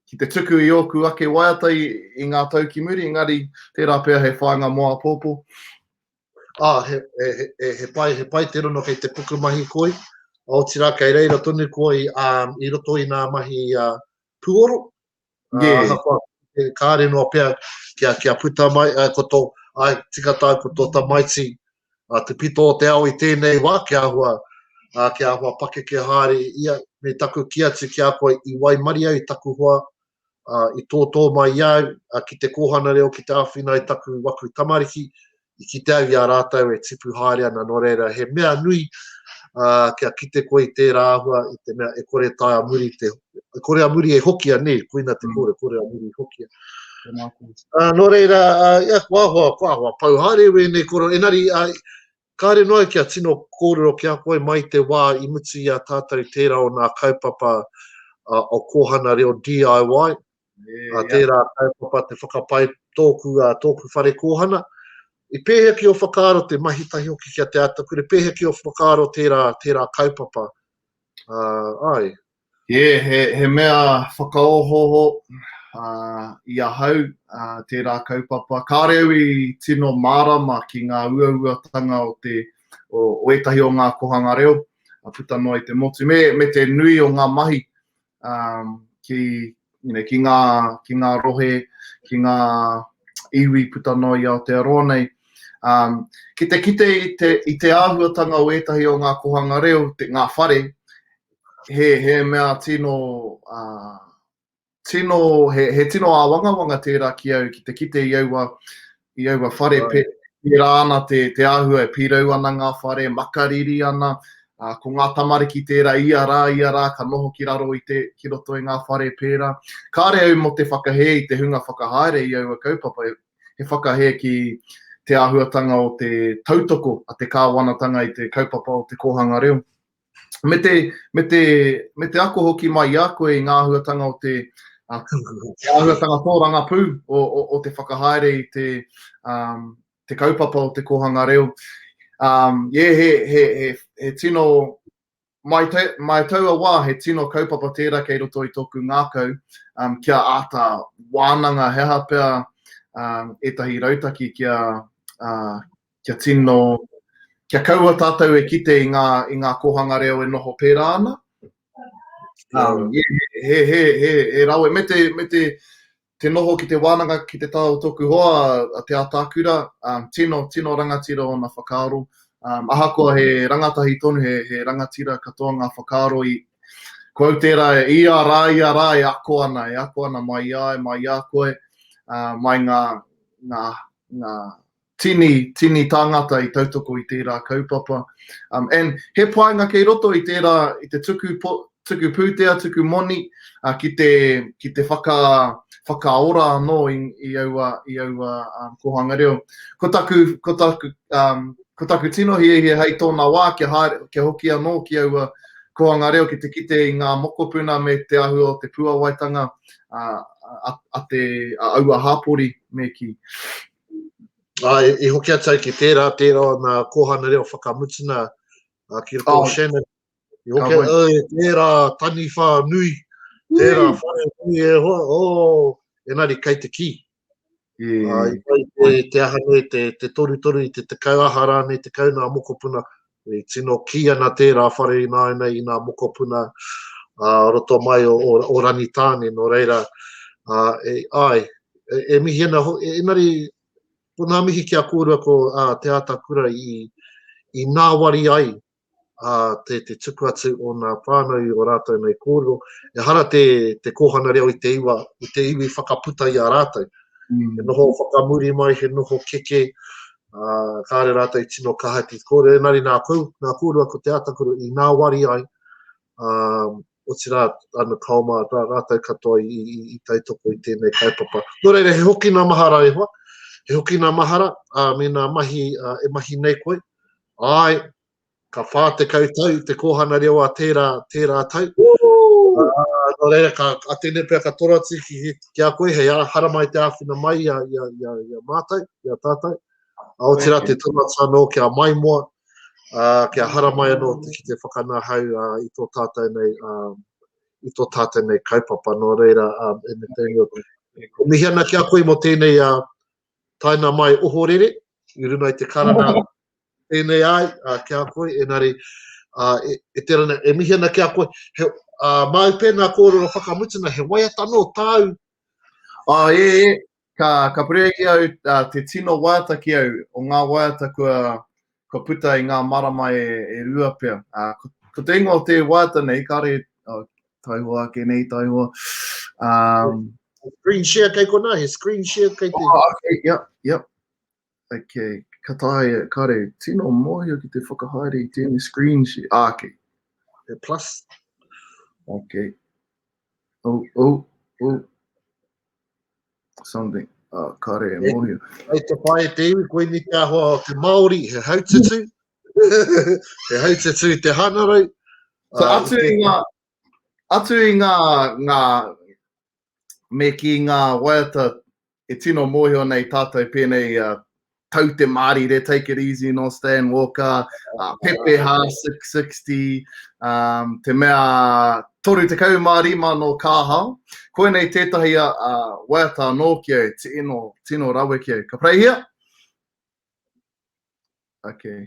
Speaker 4: ki te tuku i ōku ake waiata i, i ngā tau ki muri, engari tērā pea he whāinga mō āpōpō. Ā, ah, he, he,
Speaker 1: he, he, pai, he pai te rono kei te pukumahi koi, otirā kei reira tonu koi um, i roto i ngā mahi uh, puoro. Yeah. Uh, kua, e, kāre noa pea kia, kia puta mai, uh, ko tō, ai, tika tāu ko tō tamaiti, ā, te pito o te ao i tēnei wā kia āhua, ā, kia āhua pakeke haere ia, me taku kī atu ki a koe i waimaria i taku hoa, ā, i tōtō mai i a au, ā, ki te kōhana reo ki te āwhina i taku waku tamariki, i kite au i a rātou e tipu haere ana nō reira he mea nui, ā, kia kite koe i tērā āhua i te mea e kore taea muri te E kore a muri e hokia, nē, koina te kōrero, kore a muri i hokia. Ā, nō reira, ā, ia, kua ahoa, kua ahoa pau haere wēnei kōrero, engari, ā, kāre noa au kia tino kōrero ki a koe mai te wā i mutu i a tātou tērā o nā kaupapa ā, o Kōhana Reo DIY, ā, tērā kaupapa te whakapae tōku, ā, tōku whare kōhana, i pēhea ki ō whakaaro te mahi tahi hoki ki a Te Atakura, i pēhea ki ō whakaaro tērā, tērā kaupapa, ā, āe. Yeah, he,
Speaker 4: he mea whakaohooho uh, i ahau uh, tērā kaupapa. Kāre au i tino mārama ki ngā uauatanga o, te, o, o ētahi o ngā kohanga reo, a puta noa i te motu, me, me te nui o ngā mahi um, ki, you know, ki ngā, ki ngā rohe, ki ngā iwi puta noa i Aotearoa nei. Um, ki te kite i te, i te āhuatanga o ētahi o ngā kohanga reo, te, ngā whare, he, he mea tino, uh, tino, he, he tino āwangawanga tērā ki au, ki te kite i aua i aua whare, right. pē, pērā ana te, te āhua e pīrau ana ngā whare, makariri ana, uh, ko ngā tamariki tērā ia rā, ia rā, ka noho ki raro i te, ki roto i ngā whare pērā. Kāre au mo te whakahē i te hunga whakahaere i aua kaupapa, he whakahē ki te āhuatanga o te tautoko a te kāwanatanga i te kaupapa o te kōhanga reo. me te, me te, me te ako hoki mai i a koe i ngā āhuatanga o te, uh, āhuatanga tōrangapū o, o, o te whakahaere i te, um, te kaupapa o te kōhanga reo. Um, yeah, he, he, he, he tino, mai, te, mai taua wā, he tino kaupapa tērā kei roto i tōku ngākau, um, kia āta wānanga he aha pea um, ētahi rautaki kia, uh, kia tino, kia kaua tātou e kite i ngā, i ngā kōhanga reo e noho pērā ana. Um, yeah, he, he, he, he rawe, me te, me te, te noho ki te wānanga, ki te tao tōku hoa, a Te Atakura, um, tino, tino rangatira o na whakaaro. Um, ahakoa he rangatahi tonu, he, he rangatira katoa ngā whakaaro i, ko au tērā, i a rā, i a rā, e ako ana, e ako ana mai i ai, mai i a koe, uh, mai ngā, ngā, ngā, Tini, tini tāngata i tautoko i tērā kaupapa. Um, and he painga kei roto i tērā, i te tuku, po, tuku pūtea, tuku moni, uh, ki te, ki te whaka, whakaora anō i, i aua, i aua um, kohanga reo. Ko taku, ko taku, um, ko taku tino hiahia hei tōna wā kia, haere, kia hoki anō ki aua kohanga reo ki te kite i ngā mokopuna me te ahua o te puawaitanga a, a, a, te, a aua hāpori me ki.
Speaker 1: Āe, i hoki atu au ki tērā, tērā o nā kōhana reo whakamutunga a ki roto oh. Shannon. I hoki au, oh, tērā taniwha nui, tērā mm. whare nui e hoa, oh, enari kei te ki. Yeah. Uh, te, te aha nei, te, te toru toru i te tekau aha rānei, tekau nā mokopuna, I tino kī ana tērā whare ināianei i ngā mokopuna ā roto mai o o Rangitāne nō reira ā e āe e mihi ana hoki engari ko ngā mihi ki a kōrua ko ā Te Ātakura i i ngāwari ai ā te te tuku atu o ngā whānau i o rātou nei kōrero ehara te te kōhanga reo i te iwa i te iwi whakaputa i a rātou he noho whakamuri mai he noho keke Uh, kāre rātou tino kaha ki te kōrero, engari nā, kou, nā kōrua ko te ātakuru i nāwari ai, um, o tira ana kaoma rā, rātou katoa i, i, i taitoko i tēnei kaipapa. Nō reira, he hoki nā mahara e hoa, he hoki nā mahara, a, me nā mahi, a, e mahi nei koe, ai, ka whā tekau tau te kōhana reo a tērā, tērā tau. Woo! Ā, nō reira, ka atene pea, ka toro atu ki, ki a koe, hei ara, haramai i te āwhina mai i a, i a, i a, i a mātou, i a tātou. Ā, otirā, Thank you. te toro atu anō kia maimoa, ā, kia haramai anō te, ki te whakanahau ā, i tō tātou nei, ā, i tō tātou nei kaupapa. Nō reira, ā, e me tēnei, e mihi ana ki a koe mō tēnei, ā, taina mai ohorere i runga i te karanga tēnei ai ki a koe, enari e, e tera na, e mihi ana ki a koe, he, a, māu pē ngā kōrero whakamutunga, he waiata nō tāu. A, e, e,
Speaker 4: ka, ka purea ki au a, te tino waiata ki au o ngā waiata kua, kua puta i ngā marama e, e rua pea. Ā, ko, ko te ingoa o te waiata nei, kāre, oh, taihoa ake nei, taihoa. Um, screen
Speaker 1: share kei kona, he screen share kei te... Oh, okay, yep,
Speaker 4: yep. Okay, ka tae, kāre, tino mōhio ki te whakahaere i tēnei screen share. Ah, okay. He plus. Okay. Oh, oh, oh. something. Uh, kare e mōhio. Hei te pae te
Speaker 1: iwi, koe ni te ahoa o te Māori, he haututu, he haututu i te hanarau. So, ah, atu, i
Speaker 4: ngā, atu i ngā, ngā, me ki ngā waiata e tino mōhio nei tātou pēnei uh, tau te mārire, Take It Easy nō Stan Walker, uh, Pepeha 660, um, te mea 35 nō Kāhao. Koinei tētahi a uh, waiata anō ki au, tino, tino rawe ki au. Ka preihia? Okay.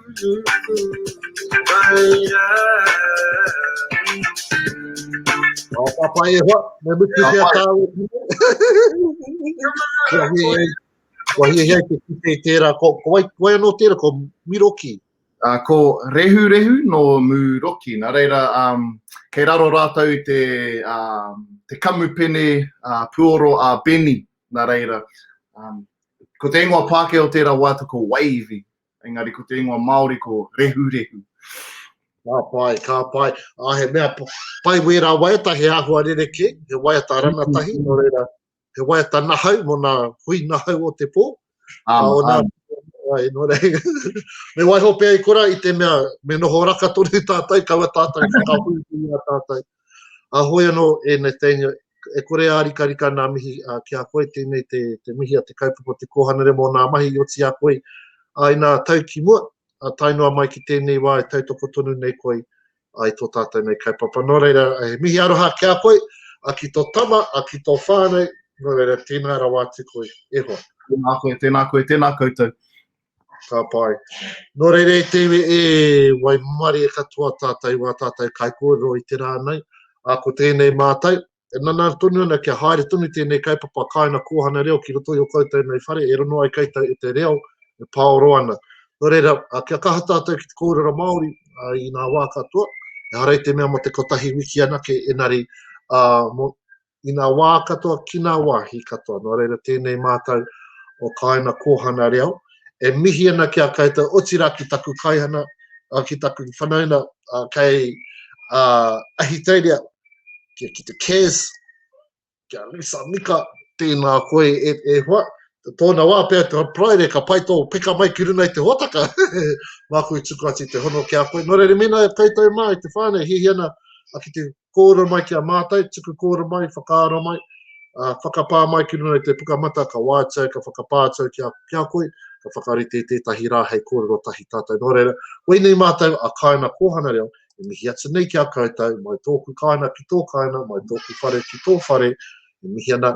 Speaker 1: Ka papa e hoa, me mutu ki a tāua ki nei. Kua hia hei, kua hia hei te kite i tērā, ko, ko wai, wai anō tērā, ko Miroki. Uh,
Speaker 4: ko Rehu Rehu no Muroki, nā reira, um, kei raro rātou i te, um, te kamupene uh, puoro a Benny, nā reira. Um, ko te ingoa Pākehā o tērā waiata ko Wavy, Engari ko te ingoa Māori ko Rehurehu. Ka pai, ka
Speaker 1: pai. A he mea pai wērā waiata, he āhua rerekē, he waiata rangatahi, nō reira, he waiata nahau mō nā hui nahau o te pō. Āma, āma. Ai, nō reira. me waiho pēa i kora i te mea, me noho raka tonu tātou, kaua tātou whakahuihui a tātou. A hoi anō e Nathaniel, e kore e ārikarika nā mihi a, ki a koe tēnei te, te mihi a te kaupapa o te kōhanare mō nā mahi i oti a koe. A inā tau ki mua, a tae noa mai ki tēnei wā e tautoko tonu nei koe a, i tō tātou nei kaupapa. Nō reira, he mihi aroha ki a koe, a ki tō tama, a ki tō whānau, nō reira, tēnā rawa atu koe. E hoa. Tēnā koe, tēnā koe,
Speaker 4: tēnā koutou. Ka
Speaker 1: pai. Nō reira e te iwi e waimarie katoa tātou wā tātou kaikōrero i te rā nei, ā, ko tēnei mātou, e nana tonu ana kia haere tonu tēnei kaupapa kāinga kōhana reo ki roto i o koutou nei whare e rongo ai koutou e te reo e pāoro ana. Nō reira, kia kaha tātou ki te kōrero Māori i ngā wā katoa, ehara i te mea mō te kotahi wiki anake engari, ā, mō, i ngā wā katoa ki ngā wāhi katoa. Nō reira tēnei mātou o Kāina Kōhana Reo e mihi ana ki a koutou, otirā ki taku kaihana, ki taku whanauna kei Ahitereiria, ki, ki te Kaz, ki a Lisa Mika, tēnā koe e, e hoa, tōna wā pea te praere, ka pai tō peka mai ki runa i te hōtaka, māku i tuku atu i te hono ki a koe. Nō reira, mēnā e koutou mā, i te whānau, hihi ana ki te kōura mai ki a mātou, tuku kōura mai, whakaara mai, ā, whakapā mai ki runga i te puka mata, ka wātea au, ka whakapā atu au ki a, ki a koe, ka whakarite i tētahi rā hei kōrero tahi tātou. Nō reira, koinei mātou a Kāina Kōhana Reo, e mihi atu nei ki a koutou, mai tōku kāina ki tō kāina, mai tōku whare ki tō whare, e mihi ana,